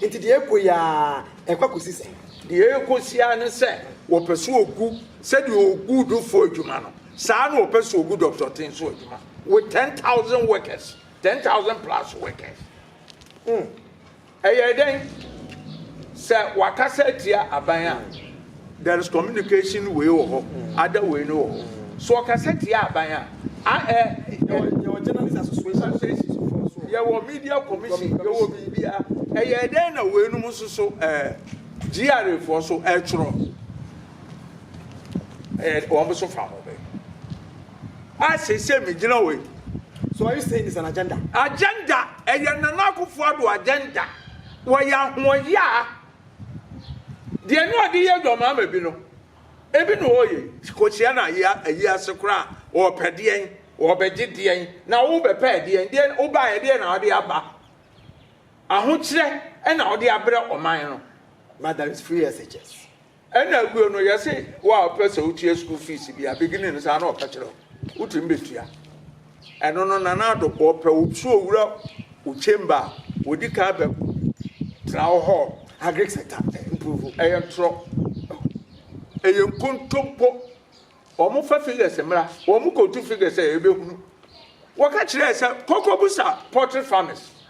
Enti deɛ ɛrekɔ yi ara, ɛrekɔ akɔsi sɛn? Deɛ ɛrekɔ si ara ne sɛ wɔpɛ so wɔgu sɛdeɛ wɔgu dufo adwuma no, saa na wɔpɛ so wɔgu Dɔkta Ɔte nso adwuma with ten thousand workers, ten thousand plus workers. Hmm. Ɛyɛ dɛn sɛ wɔakasa atia aban a There is communication wei wɔ hɔ, ada wei no wɔ hɔ. So ɔkasa tia aban a, a ɛ. Yɛwɔ journalist association. Yɛwɔ media commission, yɛwɔ biribia. Ɛyɛ dɛn na wei nom nso so ɛɛ GRA foɔ so ɛtwerɛ. Ɛyɛ wɔn nso fa ho bɛ. A sese mi gyina wei. So are you saying it's an agenda? Agenda, ɛyɛ Nana Akufo-Addo agenda. Wɔyɛ ahoɔyaa. Deɛ na ɔde yɛ dwɔmaa ma bi no, ebi na ɔreyɛ yi. Kɔhyia no ayi ase koraa a, ɔrepɛ deɛn? Ɔrebɛgye deɛn? Na worebɛpɛ ɛdeɛn? Deɛn wobaa ɛdeɛn na wode aba? Ahokyerɛ na wode abrɛ ɔman no, but there is free SHS. Ɛna aguo no, yɛse wo a wopɛ sɛ wotua school fees bi a, beginning no saa na ɔka kyerɛ wo, wotumi bɛtua. Ɛno no Nana Addo bɔ pɛ wo so owura wo chamber a odi kan bɛ ko tena wo hɔ agric sector improve ɛyɛ ntorɔ ɛyɛ nkontompo wɔn fa figures mmra wɔn kɔtu figures a ɛbɛhunu wɔka kyerɛ sɛ koko busa poultry farmers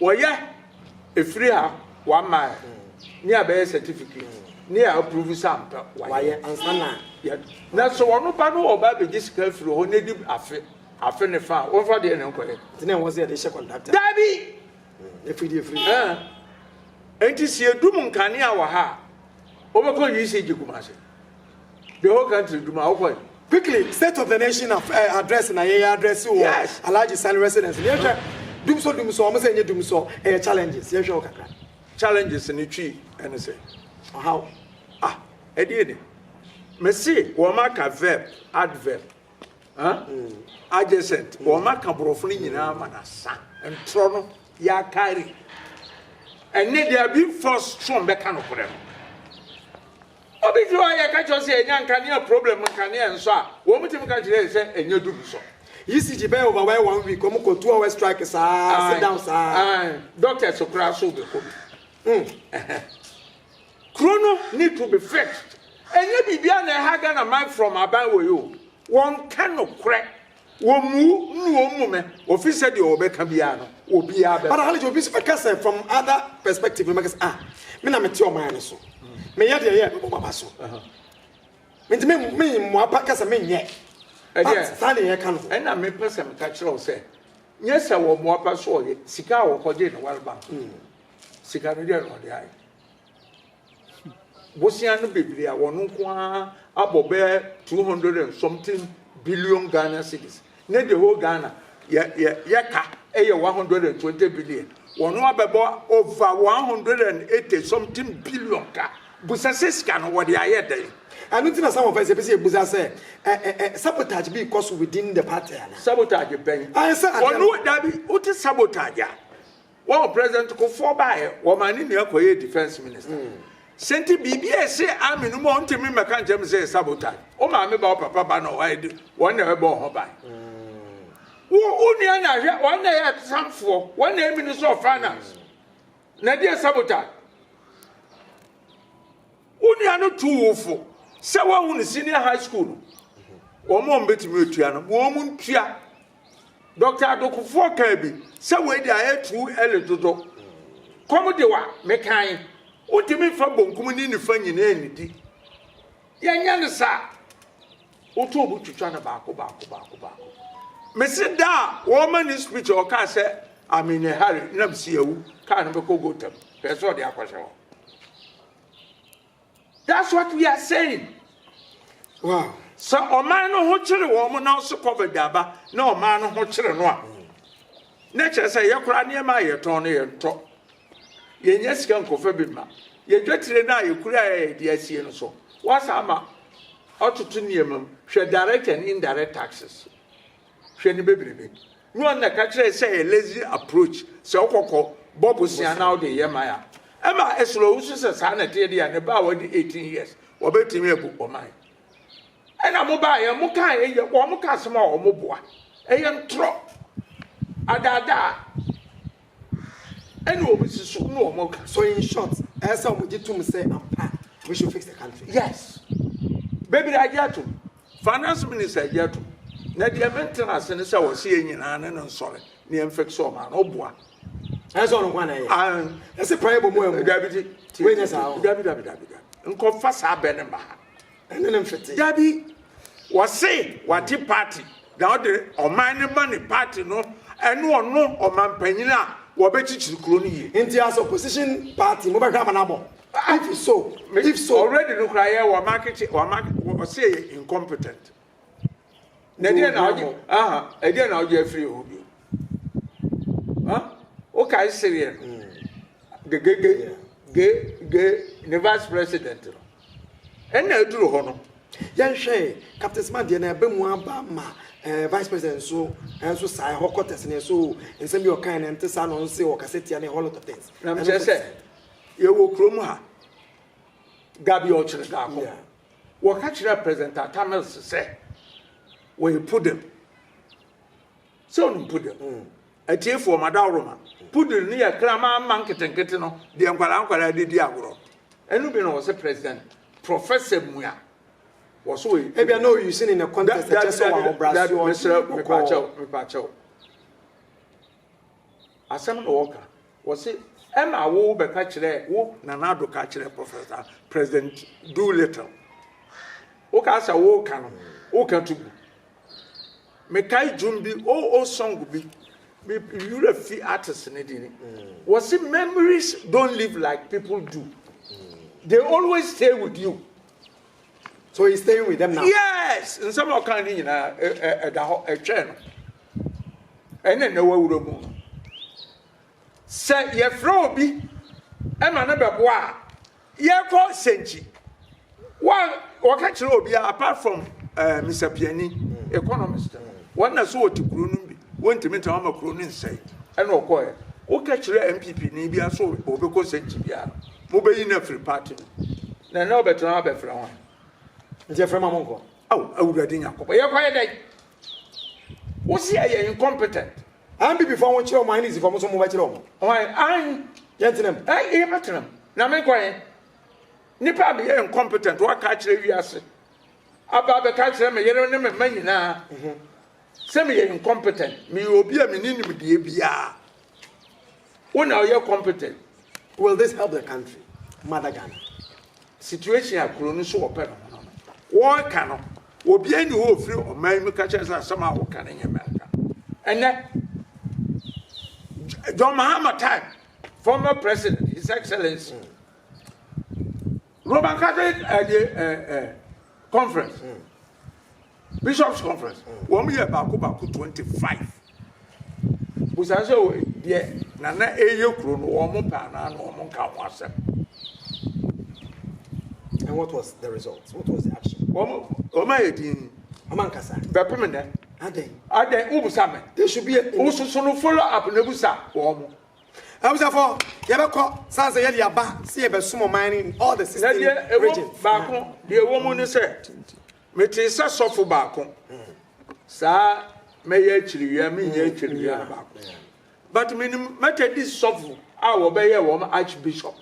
Wɔyɛ efiri a wama ɛ ne a bɛyɛ certificate ne a approve sɛ ampa wayɛ ansa na yɛ na sɛ wɔn ba no ɔba abɛgye sika afiri hɔ n'edi afe afe ne fa a wɔnfa deɛ ne nkɔyɛ. Nti na ɛwɔ sɛ yɛde hyɛ kɔntrakta. Daabi. Efiri deɛ efiri. Ɛɛ nti si edum nkanea wɔ ha a wɔbɛkɔ UCG Kumasi. The whole country dwuma a wokɔe. Quickly state of the nation of eh, address na yɛyɛ address wɔ yes. Alhaji Sani residence no yɛhwɛ dumsɔ dumsɔ ɔmo sɛ ɛnyɛ dumsɔ ɛyɛ challenges yɛhwɛ wɔ kakra challenges no twi ɛne sɛ ɔhaw ah ɛdeɛ ni mese wɔn aka verb adverb huh? mm. adjacent mm. wɔn aka borɔfo no nyinaa ma na sa ntorɔ no yɛakari ɛne deɛ bi force twɔn bɛka no korɛ no Obi fi hɔ a yɛ ka kyerɛ sɛ yɛnya nkanea problem nkanea nsɔ a wɔn timi ka kyerɛ yɛ sɛ ɛnyɛ dum nsɔ. ECG bɛyɛ over wɛ one week wɔn kɔ two hour strike saa sit down saa. Ae doctors koraa so bɛ kɔ bi mm ɛhɛn. Kuro no need to be fixed ɛnyɛ biribiara na ɛha Ghana man from aban wɔ yi o wɔn ka nokorɛ. Wɔmmu nnu wɔn mu mɛ, wɔfiri sɛ deɛ wɔbɛka biara no, obiara bɛba. But Halije obi nso bɛka sɛ from other perspective no bɛka sɛ ah me na mete ɔman no so, meyɛ deɛ ɛyɛ a mɛbɔ m'aba so. Nti me me mmoa pa ka sɛ menyɛ. Ɛdeɛ saa na yɛka no. Ɛna mepɛ sɛ meka kyerɛ wo sɛ nyɛ sɛ wɔmmoa pa so ɔyɛ, sika a wɔkɔgye no World Bank no, sika no deɛ na ɔde ayɛ. Bosea no bebree a wɔn nko ara abɔ bɛyɛ two hundred and something billion Ghana cedis ne the whole Ghana yɛ yɛ yɛka yɛ one hundred and twenty billion. Wɔn abɛbɔ over one hundred and eighty something billion ka. Busa sɛ sika no wɔde ayɛ dɛn? Ɛno nti na some of us yɛpɛ sɛ yɛbusa sɛ ɛ ɛ ɛ sabotage bi rekɔ so within the party anaa? Sabotage bɛn? Ayɛ sɛ adeɛ no. Wɔn dabi wote sabotage a. Wɔn president Kufuor baeɛ, wɔmaa ne nua kɔyɛɛ defence minister. Sɛ nti biribi a ɛse army no mu a ɔntumi mmɛka nkyerɛ me sɛ ɛyɛ sabotage. Wo maame ba, wo papa ba na wɔayɛ de, wɔn na ɛbɛbɔ wo ho ban. Wo wo nua na hwɛ, wɔn na ɛyɛ atesamfoɔ, wɔn na ɛyɛ minister of finance. Na ɛde yɛ sabotage. Wo nua no tu wo fo sɛ wɔahu no senior high school no. Wɔn a wɔbɛtumi atua no, wɔn ntua. Dɔkta Adokofoɔ kaa bi sɛ wei deɛ ayɛ too early dodo. Kɔm de wa mekan, wontumi mfa bonkum ne nifa nyinaa nnidi. Yɛnyɛ no saa. Wotɔ obi twitwa no baako baako baako baako. Mese da a wɔma ne speech a ɔkaa sɛ I'm in a hurry na mese awu kaa no bɛkɔ gotam hwɛ sɛ ɔde akɔhyɛ hɔ. That's what we are saying. Wow. Sɛ ɔman no ho kyere wɔn na ɔso covid aba na ɔman no ho kyere no a na kyerɛ sɛ yɛ koraa nneɛma a yɛtɔn no yɛntɔ yɛnyɛ sika nkɔfa bi ma yɛdwatire no a yɛkura a yɛde asie no so wasa ama ɔtoto nneɛma mu hwɛ direct and indirect taxes hwɛ no bebrebe. No a na ka kyerɛ sɛ yɛ lazy approach sɛ wokɔ kɔ bɔ bosea na wode yɛ man a ɛma ɛsrɛ wo so sɛ saa na ɛteɛ deɛ a ne ba a wadi 18 years wɔbɛtumi abu ɔman ɛna mo baayɛ mo kaa ɛyɛ wɔn ka asɛm a wɔn boa ɛyɛ ntorɔ adaadaa Ɛna ɔmo susu na ɔmo ka so in short ɛyɛ sɛ ɔmo gye tom sɛ ampa we should fix the country yes bebree agye atom finance minister agye atom na deɛ me ntena ase ne sɛ ɔse yɛ nyinaa ne no nsɔre ne yɛn fix ɔmo ano ɔboa ɛsɛ ɔno kwan na ɛyɛ ɛsɛ paa yɛ bɔ mu ɛmu dabi ti ti ti dabi dabi dabi dabi nkɔfa saa bɛ ne mba ha ɛne ne mfete. Dabi, wɔse wagye party na ɔde ɔman no ma ne party no ɛne ɔno ɔmanpanyin a wɔbɛkyikyiri kuro no yie. Nti as opposition party mo bɛhwɛ amanabɔ? If so, if so. Already no koraa yɛ wɔn akyekyere wɔn wɔse yɛ incompetent. na ɛdeɛ na ɔgye aha ɛdeɛ na ɔgye afiri hɔ bio ha wokae sereɛ no gegege ge ge ne vice president no ɛna aduru hɔ no yɛnhwɛ captain smart deɛ na ɛbɛ mu aba ma eh, vice president nso nso saa ɛhɔ kɔtɛs ne so nsɛm bi ɔkan ne nte saa na ɔnse ɔkasa tia ne whole lot of things na mekyerɛ sɛ yɛwɔ kurom ha gabi ɔkyerɛ daakɔ Wɔka kyerɛɛ President Atta Mills sɛ wɔyɛ poodle. Sɛ wonim poodle? Mm. Atiefoɔ, madaworo ma. Poodle no yɛ kraman mma nketenkete no deɛ nkwadaa nkwadaa de di agorɔ. Ɛno bi na wɔse President Professor Mua wɔso wɔyɛ poodle. Ebia na ɔyusi ne ne contest ɛkyɛ sɛ wɔahobrasoɔ nti ɔkɔɔ. Mepaakyɛw, mepaakyɛw. Asɛm na wɔka wɔse ɛna wo bɛka kyerɛ wo Nana Addo ka kyerɛ Professor President Doolittle wo ka sɛ wo ka no wo ka to gu me kae dwom bi o oh, o oh, song bi me yura fi artist ne di ni wɔse memories don't live like people do they always stay with you So he's staying with them now? Yes! Nsɛm a ɔka ne nyinaa ɛda hɔ ɛtwɛn no. Ɛna ɛna wawura mu no. Sɛ yɛfrɛ obi ɛma no bɛboa a yɛkɔ sɛnkyi. Wɔka kyerɛ obi apart from uh, eh, Mr. Piani, economist, wɔn na so wɔte kuro no bi. Wontumi ntena hɔ ma kuro no nsɛe. Ɛna ɔkɔɔɛ. Woka kyerɛ NPP ni biara sɛ ɔbɛkɔ nsɛnkyi biara no, mobɛyi no afiri party no mu. Na ɛnɛ ɔbɛtena hɔ abɛfrɛ hwan? Nti ɛfrɛ ma monkɔ. Ao Awurade Nyankopɔn, yɛkɔyɛ dɛn? Wose ɛyɛ incompetent. NPP foɔ wɔnkyerɛ wɔn NEC foɔ mo nso mobɛkyerɛ wɔn. Hwan? Ae, yɛntena mu. Ae, yɛbɛtena mu. Na menkɔ he? Nipa a meyɛ incompetent, woaka akyerɛ wiase, aba abɛka akyerɛ me yere ne me mma nyinaa. Sɛ meyɛ incompetent, meyɛ obi a menni nimdeɛ biara. Wo na ɔyɛ competent. Will this help the country? Mother Ghana. Situation a kuro no so wɔpɛ no ho no no. Wɔreka no, obiara nni hɔ a ɔfiri ɔman mu ka kyerɛ sɛ asɛm a woka no nyɛ mmerɛnka. Ɛnnɛ, John Mahama time, former president, his excellency, Roman Catholic ɛdeɛ ɛɛ ɛɛ conference bishops conference wɔn yɛ baako baako twenty five busa sɛ o deɛ nana ɛyɛ kuro no wɔn mo pɛ anaa na wɔn nka ho asɛm. And what was the result? What was the action? Wɔn wɔn ayɛ din. Wɔn ankasa. Bɛpem nɛ. Adɛn. Adɛn wobusa me. There should be a. Wososo no follow up na ebusa wɔn mo. Abusafo, yɛbɛkɔ san sɛ yɛde aba sɛ yɛbɛsom ɔman no in all the Na deɛ sixteen ɛwɔ regions. baako, deɛ ɛwɔ mu ne sɛ, metee sɛ sɔfo baako, saa mɛyɛ akyiriwia, menyɛ akyiriwia no baako. But menim Methodist sɔfo a wɔbɛyɛɛ wɔn Archbishop,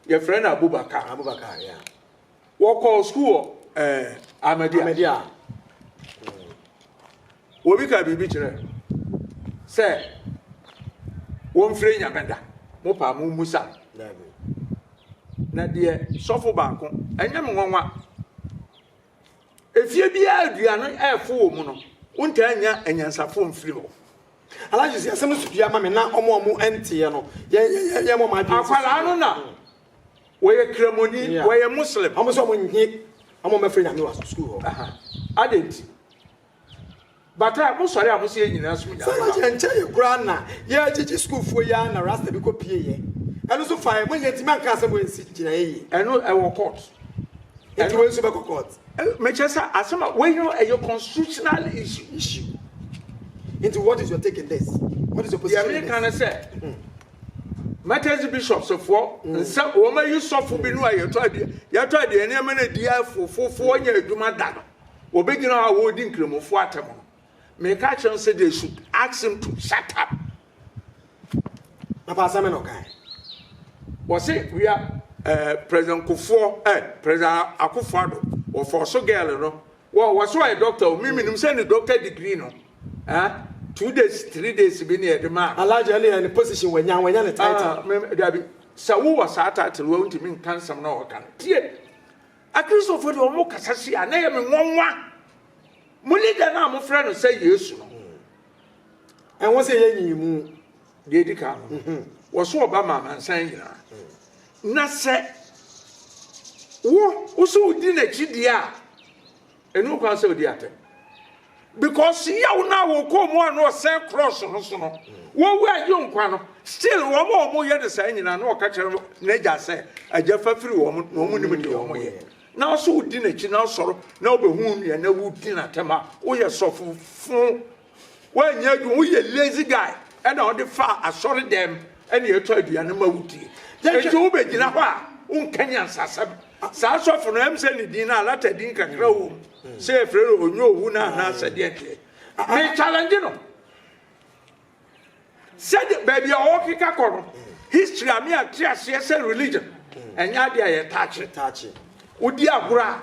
yɛfrɛ no Abubakar. Abubakar, yeah. Wɔkɔɔ sukuu wɔ Ahmadiyya. Ahmadiyya. Obi kaa biribi kyerɛ sɛ wɔmfrɛ Nyame da. Mo paa mo mmusa. Daabi. Na deɛ sɔfo baako, ɛnyɛ me nwanwa. Efie biara aduane no ɛɛfo wɔ mu no, wontaa nya anyansafo mfiri hɔ. Alhaji si asɛm no so pii ama me na ɔmo a ɔmo ɛnteɛ no, yɛn yɛn yɛn yɛn mo ɔmo adwene sisi. Akwadaa no na Wɔyɛ kramoni, wɔyɛ Muslim. Wɔn nso wɔn nnye wɔn mmɛfrɛ Nyame wɔ sukuu hɔ. Adɛn nti? But a mo sɔre a mo se yɛ nyinaa som Nyame no. Sɛ yɛ nkyɛe koraa na yɛ gyegye sukuufoɔ yi ara na Rasta bi kɔ pie yɛ. Ɛno nso fa yɛ. Mo nyɛ ntumi anka asɛm wei nsi gyinaeɛ yie. Ɛno ɛwɔ court. Nti wei nso bɛkɔ court. Me kyerɛ sɛ asɛm a wei no ɛyɛ constitutional issue. Issue. Nti what is your take in this? What is your position in this? Deɛ me ka ne sɛ Martyrs Bishops foɔ mm. nsa wɔn ayi sɔfo bi no a yɛtɔ adeɛ yɛtɔ adeɛ nneɛma no adi afofofoɔ nyɛ adwuma da no wɔbɛgyina hɔ a wɔredi nkramofoɔ atɛm no meka kyerɛ sɛ they should ask him to shut up papa asɛm na ɔkae wɔse wia eh, president kofoɔ eh, president akofoɔ ado wɔfɔɔ so girl no wɔ wɔ so ɔyɛ doctor o memenim sɛ ne doctor degree no ah two days three days bi ne yɛde maa no. Alaji ɛne yɛ ne position wanya wanya ne title. Ah me dabi sɛ wo wɔ saa title wɔ ntumi nka nsɛm na ɔka no tie akristofo deɛ ɔmo kasa si a na yɛ me nwanwa mo leader no a mo frɛ no sɛ yesu no ɛho sɛ yɛ nyi mu deɛ di kan no mhm. wɔso ɔba ma amansan nyinaa na sɛ wo wo so wodi n'akyi deɛ a Ɛni ho kwan sɛ ɔdi atɛm. Because yaw no a wɔkɔɔ mu a na ɔsɛn cross no so no, wɔwu a ɛgye nkwa no, still wɔn a wɔyɛ no saa nyinaa na ɔka kyerɛ n'agya sɛ, agya fa firi wɔn na wɔn nim deɛ wɔn yɛ. Nanso wodi n'akyi na asɔre na wobɛhu nea na wodi n'atɛm a woyɛ sɔfo fo. Woannya adwuma, woyɛ lazy guy ɛna ɔde faa asɔre dɛm ɛna ɛtɔ aduane ma wo die. Ɛnti wo bɛ gyina hɔ a wo nka nyansasɛm. Saa sɔfo no ɛm sɛ ne din no alata din kakra wɔ mu sɛ yɛ frɛ no ɔnyɛ owu no anaa sɛ deɛ deɛ. Me challenge no sɛ de baabi a ɔwɔ keka kɔ no history a me ate aseɛ sɛ religion ɛnyɛ adeɛ a yɛ taakye. Wodi agorɔ a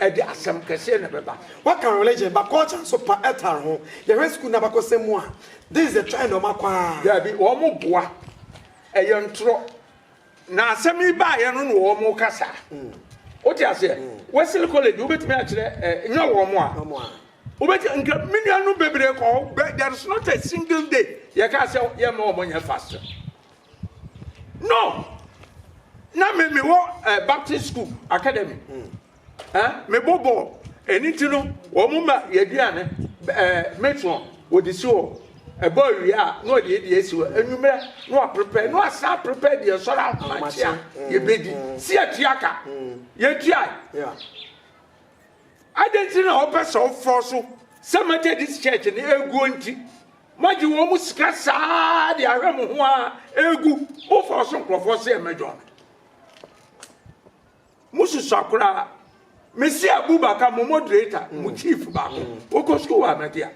ɛde asɛm kɛseɛ na ɛbɛba. Waka religion but culture nso pa ɛtare ho. Yɛhwɛ school n'abakɔsɛm mu a, this is the trend ɔmo akɔ ara. Daabi, ɔmo boa, ɛyɛ ntorɔ na asɛm yi baeɛ no na ɔmo ka saa. Wote aseɛ? Wesley college wobɛtumi akyerɛ ɛ, nyɛ ɔmo a. Ɔmo a. Wobɛtumi, nka me nuanom bebree kɔ hɔ, there is not a single day yɛkaa sɛ yɛmma ɔmo nyɛ fasting. No, na me me wɔ ɛɛ eh, Baptist school academy ɛɛ eh, me bɔ bɔɔl ɛni ti no wɔn ma yɛ aduane ɛɛ eh, metron wɔde si hɔ ɛbɔ awie a na wɔde yɛ deɛ esi hɔ enyimrɛ na wɔaprepare na wɔasan prepare deɛ sɔrɔ ahomakyia mm. yɛbɛdi mm. si atua ka mm. yɛtua adanti na wɔpɛ sɛ wɔfɔ so sɛ mɛtɛ dis church ne eguo nti. Moagye wɔn mu sika saa ara de ahwɛ mo ho ara regu mo fɔɔ so nkurɔfoɔ sɛ mmɛdwɔn me. Mosusua koraa. Mesi Abubakar, mo moderator, mo mm. chief baako. Wokɔ sukuu wɔ Ahmadiyya.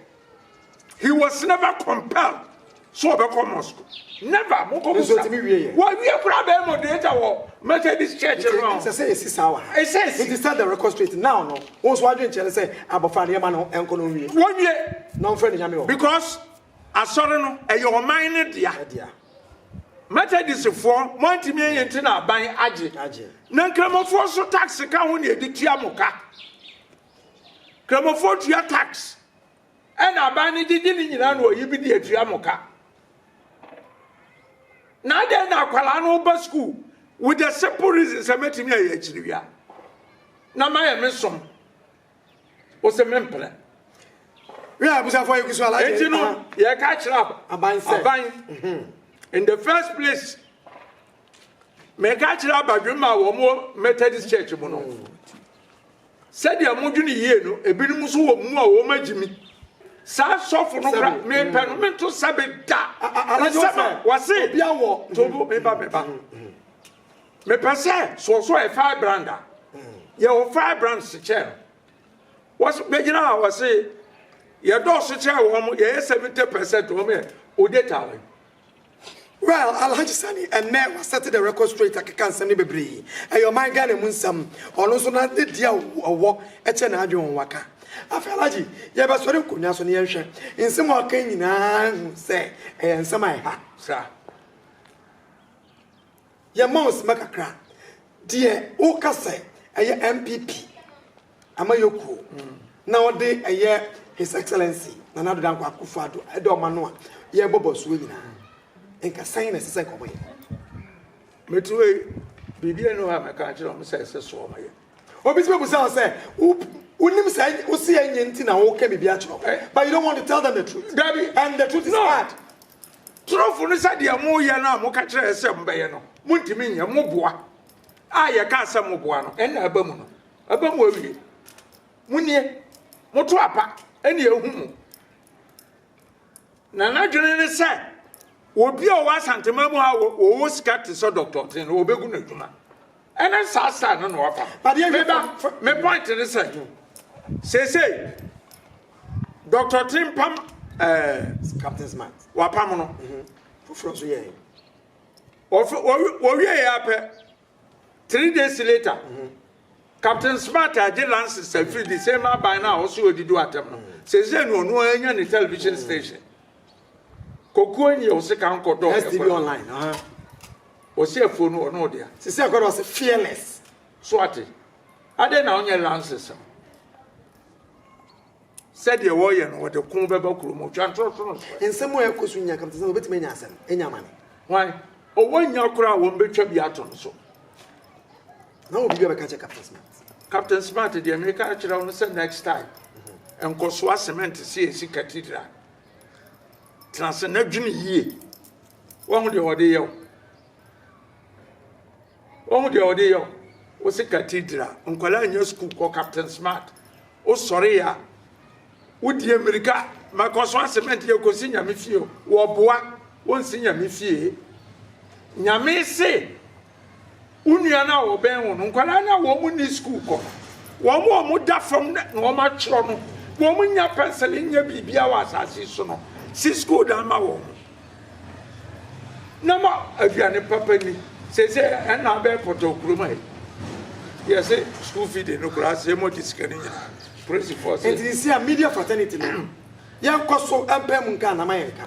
He was never compelled so ɔbɛkɔ mosque never mokɔ musa wɔwie kora bɛyɛ moderator wɔ methodist church no ɛsɛ sɛ yɛsi saa wɔ ha ɛsɛ si it is set the record straight now no Wo nso w'adwenkyerɛ ne sɛ abɔfra no yɛma no nkɔ no nwie. Wɔnwie. Na ɔmfrɛ no nyame wɔ hɔ. Because asɔre no ɛyɛ ɔman no dea. Ɛdea. Mɛtɛdisfoɔ mo antumi anyi nti na aban agye. Agye. Na nkramofoɔ nso tax ka ho na yɛde tua mo ka. Kramofoɔ tua tax. Ɛna aban no gyegye ne nyinaa na ɔyi bi de atua mo ka. Na adɛn na akwadaa no ba sukuu with the simple reason sɛ mɛtumi ayɛ akyiri wia na mayɛ me som ɔsɛ mempere. Wíwá abusuafo ayɛ kusua alaje. Eti no yɛ ka kyerɛ aban sɛ aban mhm. in the first place mɛ ka kyerɛ abadwemma a wɔn Methodist church mu no. Mm. Sɛdeɛ modwene yie no, ebinom nso wɔ mu a wɔn agyimi. Saa sɔfo no kora, mepɛ no, mento sɛbe da. Nsɛm a wɔse, tobo, meba, meba. Mepɛ sɛ soɔsoɔ yɛ firebrand a, yɛ wɔ firebrand se kyɛɛ no. Wɔse, bɛgyina a wɔse, yɛdɔɔso kyɛɛ wɔn, yɛyɛ 70% wɔn yɛ odetawe. Well Alhaji Sani ɛnnɛ wasɛte the record straight akeka nsɛm no bebree ɛyɛ ɔman Ghana mu nsɛm ɔno nso na ne deɛ a ɔwɔ kyɛ n'adwene wɔn waka afei Alhaji yɛbɛsɔre nkonnwa so na yɛnhwɛ nsɛm a ɔka nyinaa nhu sɛ ɛyɛ nsɛm a ɛha sra. Yɛma wo sima kakra. Deɛ woka sɛ ɛyɛ NPP amayɔkuo na ɔde ɛyɛ His Excellency Nana Addo Dankwa Akuffo Addo ɛda ɔma no a yɛrebɔ bɔsoɔ nyinaa nka sɛn na ɛsɛ sɛ nka wɔyɛ? Mete hɔ yi, biribiara nni hɔ a mɛka akyerɛ wɔn sɛ ɛsɛ sɛ wɔyɛ. Obi tumi bisa wo sɛ, wonim sɛ wose ɛnyɛ nti na woreka biribi akyerɛ wɔn, but you don't want to tell them the truth. Dabi. And the truth is hard. Torofo no sɛ deɛ moyɛ no a moka kyerɛɛ sɛ mobɛyɛ no montumi nyɛ, moboa a yɛkaa sɛ moboa no ɛnna aba mu no aba mu awie. Monie, moto apa ɛne ɛhu mu. Na n'adwene ne sɛ obi a ɔwɔ Asantema mu a ɔwɔ sika te sɛ Dɔkta Ɔtee no wɔbɛgu no adwuma. Ɛne saa style no na wafa. Meba me point ne sɛ seesei Dr. Timpam eh, Captain Smart wapam no mhm. foforɔ nso yɛɛ wɔwie yɛ apɛ three days later mhm. Captain Smart agye lances afiri the same aban no a ɔso ɔdi do atɛm no mhm. seesei no ɔno anya ne television station Kokuo nyi ɔse ka nkɔ dɔ ɛkɔ. STV online aha. Ɔse afuo no ɔno ɔdea. Sisi akɔ dɔ ɔse fearless. So ate. Adɛn na ɔnyɛ lances no. Sɛdeɛ wɔyɛ no wɔde ko bɛba kuro mu twa ntorotoro so. Nsɛm a ɛkɔ so nya kam te sɛ wɔbɛtumi anya asɛm anya amane. Hwan? Ɔwɔ nya koraa wɔn bɛtwa bi ato no so. Na wɔ biribi a bɛka kyɛ Captain Smart. Captain Smart deɛ meka akyerɛ wo no sɛ next time. Nkɔsoa cement si esi cathedral. Tena ase na dwene yie. Wahu deɛ ɔde yɛ wo. Wahu deɛ ɔde yɛ wo. Wo se cathedral. Nkwadaa nyɛ sukuu kɔ Captain Smart. Wo sɔre ya. Wo di mmirika. Mɛkɔ so asement yɛ kɔ si nyame fie. Wɔboa. Wɔnsi nyame fie. Nyame se Wo nua no a ɔbɛn wo no, nkwadaa no a wɔn nni sukuu kɔ, wɔn a wɔda fam na wɔatwerɛ no, wɔn nnya pɛnsele nyɛ biribiara wɔ asase so no, si sukuu dan ma wɔn. Na ma aduane papa ni. Seesei ɛna abɛɛ pɔtɔ kurom ha yi. Yɛse sukuu fi de no koraa sɛ yɛmɔgye sika no nyinaa. Polisifoɔ sɛ. Nti sisi a media fraternity no, yɛnkɔ so mpae mu nka anaa ma yɛnka?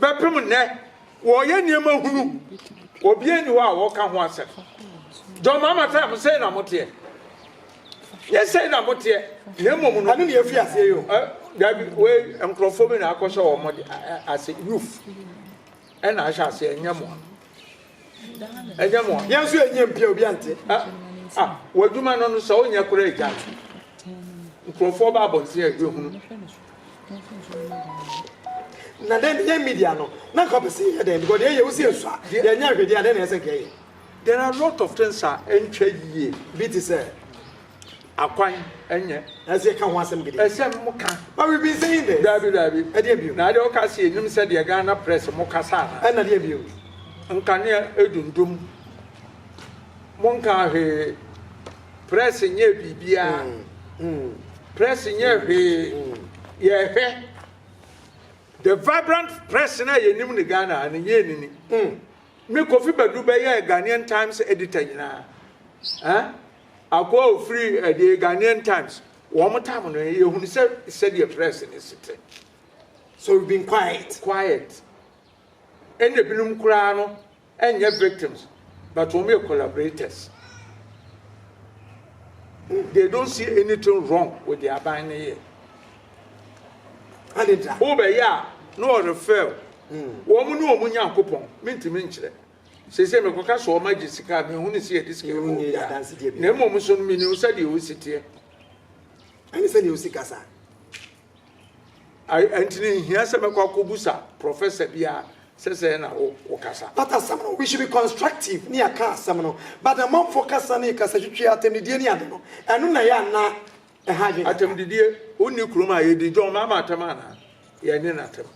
Bɛpem nnɛ, wɔreyɛ nneɛma hunu. Obiara nni hɔ a wɔka ho asɛm. John Mahama sɛ mo sɛe na moteɛ. Nyɛ sɛe na moteɛ, na mmom no. Ɛno na yɛfi aseɛ yi o. Dabi, wei nkurɔfoɔ bi na akɔhyɛ wɔn ase, youth ɛna ahyɛ aseɛ, ɛnyɛ mo. ɛnyɛ mo a yɛn nso yɛnyɛ mpia obi ante ah ah w'adwuma no no sɛ wonyɛ koraa agya nkurɔfoɔ ba abɔnten a ɛhunu na dɛn ne yɛn media no na nka pɛ sɛ yɛ dɛn because deɛ yɛ wo si nso a yɛnyɛ ahwɛdeɛ a dɛn na ɛsɛ nka yɛ there are a lot of things a ɛntwa yie bi te sɛ akwan ɛnyɛ. Nanso yɛ ka ho asɛm gidi. Ɛsɛ mo ka. But we've been saying this. Daabi daabi. Ɛdeɛ bio. Na adeɛ wo ka se yɛ nim sɛ deɛ Ghana press mo kasa ana. Ɛna deɛ bio. Nkanea ɛdundum. Mo nkaa hwee. Press nyɛɛ biribiaa. Press nyɛɛ hwee. Yɛ hwɛ. The vibrant press na yɛ nim ne Ghana ha no nyɛɛ nini. Me Kofi Badu bɛyɛɛ Ghanaian Times editor nyinaa. Eh? Akoa a ɔfiri The Ghanaian Times, Wɔn tam no, yɛhunu sɛ sɛdeɛ press no si te. So we've been quiet. Quiet. Ɛna binom koraa no ɛnyɛ victims but wɔn yɛ collaborators. They don't see anything wrong with the aban no yɛ. Adedra. Wobɛyɛ a na ɔrefail. Wɔn ne wɔn Nyankopɔn, mentumi nkyerɛ. Seesei mekɔka sɛ wɔagye sika a, menhunu sɛ yɛde sika ma obiara, na mmom nso no, menim sɛdeɛ ɔsi teɛ. Ɛne sɛdeɛ ɔsi kasa. Ɛnti no nhia sɛ mɛkɔ akɔbusa prɔfɛsa biara sɛ sɛɛ na wo wokasa. But asɛm no, we should be constructive ne yɛka asɛm no, but amanfoɔ kasa ne kasatwitwi, atɛmdidie ne ade no, ɛno na ɛyɛ anaa ɛha adwene kakra. Atɛmdidie, wonni kurom a yɛdi, John, maama atɛm anaa? Yɛnne no atɛm.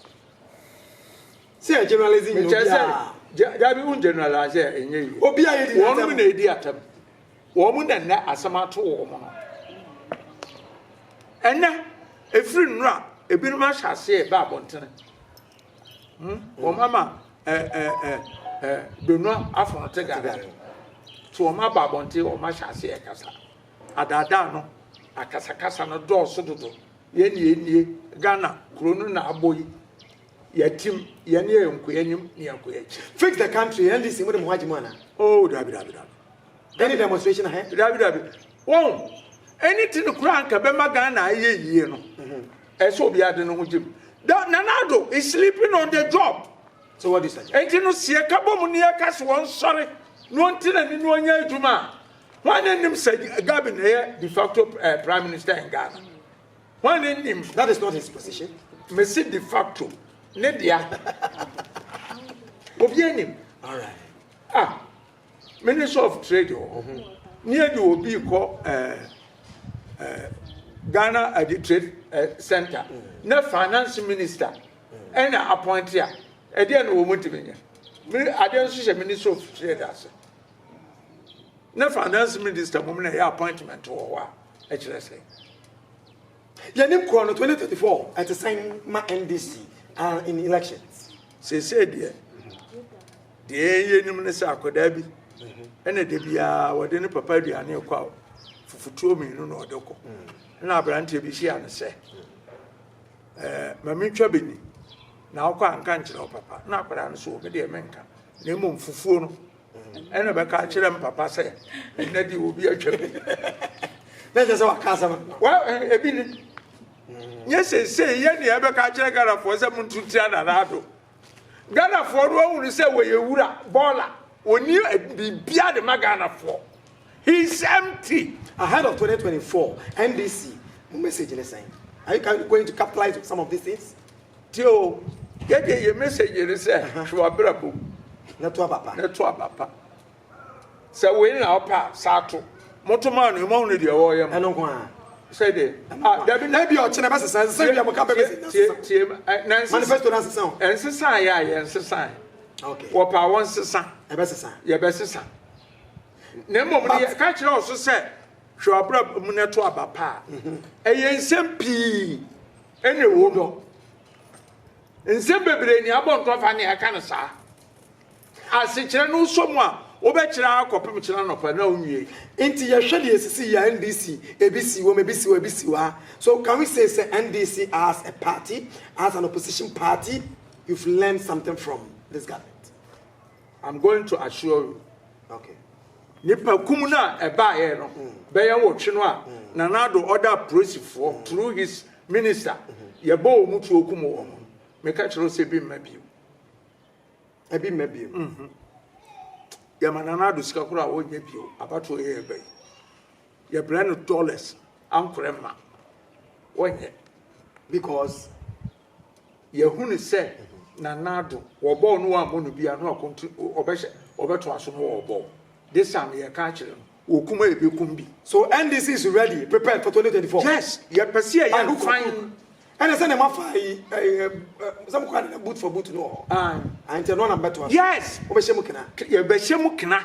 Sɛ yɛ generalize nyɛ obiara. Mekyerɛ sɛ, dabi wo generalize a ɛnyɛ yie. Obiara yɛ di n'atam. Wɔn mu na ɛdi atam. Wɔn mu na nnɛ asɛm ato wɔn mu no. Ɛnɛ, ɛfiri nnora, ebinom ahyɛ aseɛ ɛbɛ abɔntene. Hmm? Wɔn ama donua afono te gada. So wɔn aba abɔnten wɔn ahyɛ aseɛ ɛkasa. Adaadaa no, akasakasa no dɔɔso dodo. Yɛn yɛn nie, Ghana kuro no na abɔ yi. Yɛatim, yɛn ne yɛn nkoa anim ne yɛn nkoa akyi. Fix the country, NDC, mo de mo ho agye mu ana? Oh, dabi, dabi, dabi. Any demonstration ahe? Dabi, dabi. Wɔn, anything koraa nka bɛma Ghana ayɛ yie no, mhm. ɛsɛ obiara de ne ho gyem. Nana Addo is sleeping on the job. So what do you say? Enti no seɛ ka bɔ mu ne yɛ ka so wɔn sɔre na wɔn ti na ne no ɔnyɛ adwuma a, wɔn anim sɛ Gabin ɛyɛ de facto uh, prime minister in Ghana. Hwan ne nim that is not his position mesi de facto ne dea obi anim alright ah minister of trade wɔ oh, ho ne adi obi kɔ ɛɛ eh, ɛɛ eh, ghana adi eh, trade ɛɛ center ne finance minister ɛna appointee a ɛdeɛ na wɔn ntumi nyɛ adeɛ nso hyɛ minister of trade ase. Ne finance minister mmom na ɛyɛ appointment wɔ hɔ a ɛkyerɛ sɛ yɛne korɔ no 2034 ɛte sɛn ma NDC are in election. Seesei deɛ deɛ yɛnim ne sɛ akwadaa bi ɛna da biara wɔde ne papa aduane rekɔ a fufutuo mmienu na ɔde kɔ na aberanteɛ bi hyia no sɛ ɛɛ ma mentwa bi ni na wokɔ anka nkyerɛ wo papa na akwadaa no so wɔ me deɛ menka na mmom fufuo no ɛna bɛka akyerɛ m papa sɛ ɛnɛ de obi atwa mu na kyɛ sɛ waka asɛm ebi ne nyɛ seesei yɛ ne ɛbɛka akyerɛ ghanafoɔ sɛ monto tia nanaado ghanafoɔ no ahunu sɛ wɔyɛ wura bɔɔla wɔni biribia de ma ghanafoɔ he is empty ahead of 2024 ndc mo message ne sɛn are you going to capitalize some of these things Tie o, yɛ deɛ yɛ message yere sɛ hwɛ w'abrabɔ mu na to aba pa. Na to aba pa. Sɛ wei na ɔpɛ a saa to. Moto maa no ɛmɔ hunu deɛ wɔyɛ mu. Ɛno nko ara. Sɛ deɛ. Ah, dabi na. Ebi ɔkyena bɛ sesa nsesa bi a mo ka bɛ bɛ sesa. Tie tie na nsesa. Manifesto na sesa o. Nsesa yɛ a yɛ nsesa. Okay. Wɔpɛ a wɔn sesa. Ɛbɛ sesa. Yɛ bɛ sesa. Na mmom no yɛ ka kyerɛ ɔso sɛ hwɛ w'abrabɔ mu na to aba pa. Ɛyɛ nsɛm pii. Ɛne wo dɔ. Nsɛm bebree ne abɔ ntɔ fa ne ɛka no saa. Asekyerɛ no wosɔ mu a, wobɛkyerɛ ara kɔpem kyena anɔpa na wonwie. Nti yɛhwɛ deɛ ɛsisi yi a NDC ebi si wom ebi si hɔ ebi si hɔ a so can we say sɛ NDC as a party as an opposition party you've learned something from this government? I'm going to assure you. Okay. Nipa kum no a ɛbaeɛ no bɛyɛ nwɔtwe no a Nana Addo ɔda apolisifoɔ through his minister yɛbɔ wɔn tuo kum wɔn no meka kyerɛ sɛ ebi mma bio. Ebi mma bio. Mhm. Yɛma Nana Addo sika koraa a wɔnyɛ bio abatoɔ yɛ yɛba yi yɛbrɛ no dollars ankorɛ ma wɔnyɛ. Because yɛhunu sɛ Nana Addo, wɔbɔɔ no wɔammɔ no bia na ɔkonti ɔbɛhyɛ ɔbɛtoa so no ɔbɔɔ. This time yɛka akyerɛ no, wɔkum a yɛbɛkum bi. So NDC is ready, prepared for 2024? Yes, yɛpɛ sɛ yɛyɛ no fann. Ɛne sɛdeɛ moafa ayi sɛ mokɔ ade no boot for boot no wɔ hɔ? Ae. Ae nti ɛno na mobɛtoa so? Yes. Mobɛhyɛ mu kena? Yɛbɛhyɛ mu kena.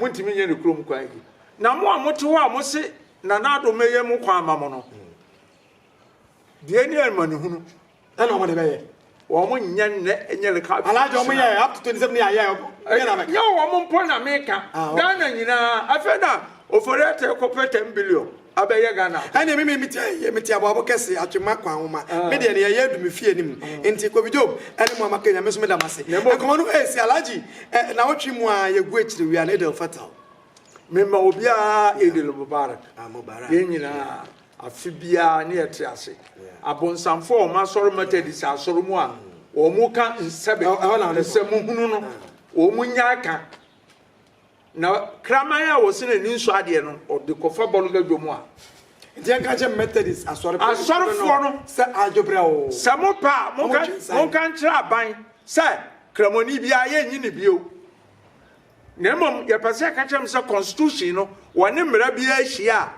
montumi nyɛ ne kurom kwan bi. Na mo a mote hɔ a mose na n'adom mɛyɛ mo kwan ama mo no, deɛ ni amanehunu ɛna wɔde bɛyɛ wɔn nyɛ nnɛ nyɛ ne ka alaagye wɔn yɛ up to twenty seven yɛ ayɛ nyɛ na bɛ nyɛ wɔn mpo na meka ah, ghana nyinaa afei na ofori ɛtɛ kɔpɛ ten billion Abɛyɛ Ghana ade. Ɛnneɛ me mete ha yi, mete aboabo kɛse, Atwemma Kwanwoma. Me deɛ nea ɛyɛ adu me fie anim. Nti Kobe Job ne mo a moaka, Nyame nso meda mo ase. Nkɔmmɔ no resi, Alhaji, nnawɔtwe mu ara yɛgu akyire, we are an Eid El Fatal. Mema obiara Eid El Mubarak. Yɛn nyinaa, afe biara ne yɛte ase. Abonsamfoɔ a wɔasɔre Methodist asɔre mu a wɔka nsɛm, nsɛm hunu no, wɔn nyaa ka. Na kraman a wɔse n'ani nsɔ adeɛ no, ɔde kɔfa bɔ no badwa mu a. Enti yɛnka nkyerɛ Methodist asɔre pa Asɔrefoɔ no sɛ adwo berɛ oo. Sɛ mopɛ a, monka Wɔtwe nsan. monka nkyerɛ aban sɛ Kramoni biara, yɛnnye no bio. Na mmom yɛpɛ sɛ yɛka kyerɛ mo sɛ Constitution no, wɔne mmara biara hyia a,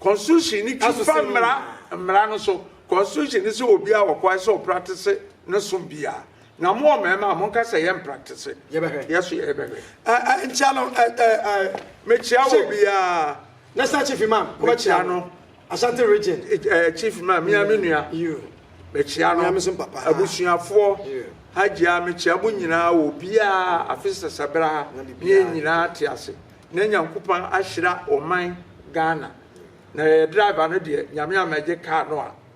Constitution no twi Ɛso fa sɛ mmara nyinaa. mmara no so. Constitution no sɛ obiara wɔ kwan sɛ ɔpratese ne som biara. Na mo ɔmarima monka sɛ yɛ mpraktese. Yɛbɛhwɛ. Yɛ so yɛ bɛhwɛ. Ɛ ɛ nkyia no ɛ ɛ ɛ. Mekyia wɔ biara. National chief imam wobɛkyia no. Ashanti region. Ɛ ɛ chief imam mia me nua. You. Mekyia no. Mia me so papa. Abusuafoɔ. You. Hajia mekyia mo nyinaa wɔ biara afe sɛsɛ bra ha. Na bibiara. Ne yɛ nyinaa te ase. Na Nyankopɔn ahyira ɔman Ghana. Na yɛyɛ driver no deɛ Nyame ammɛgye car no a.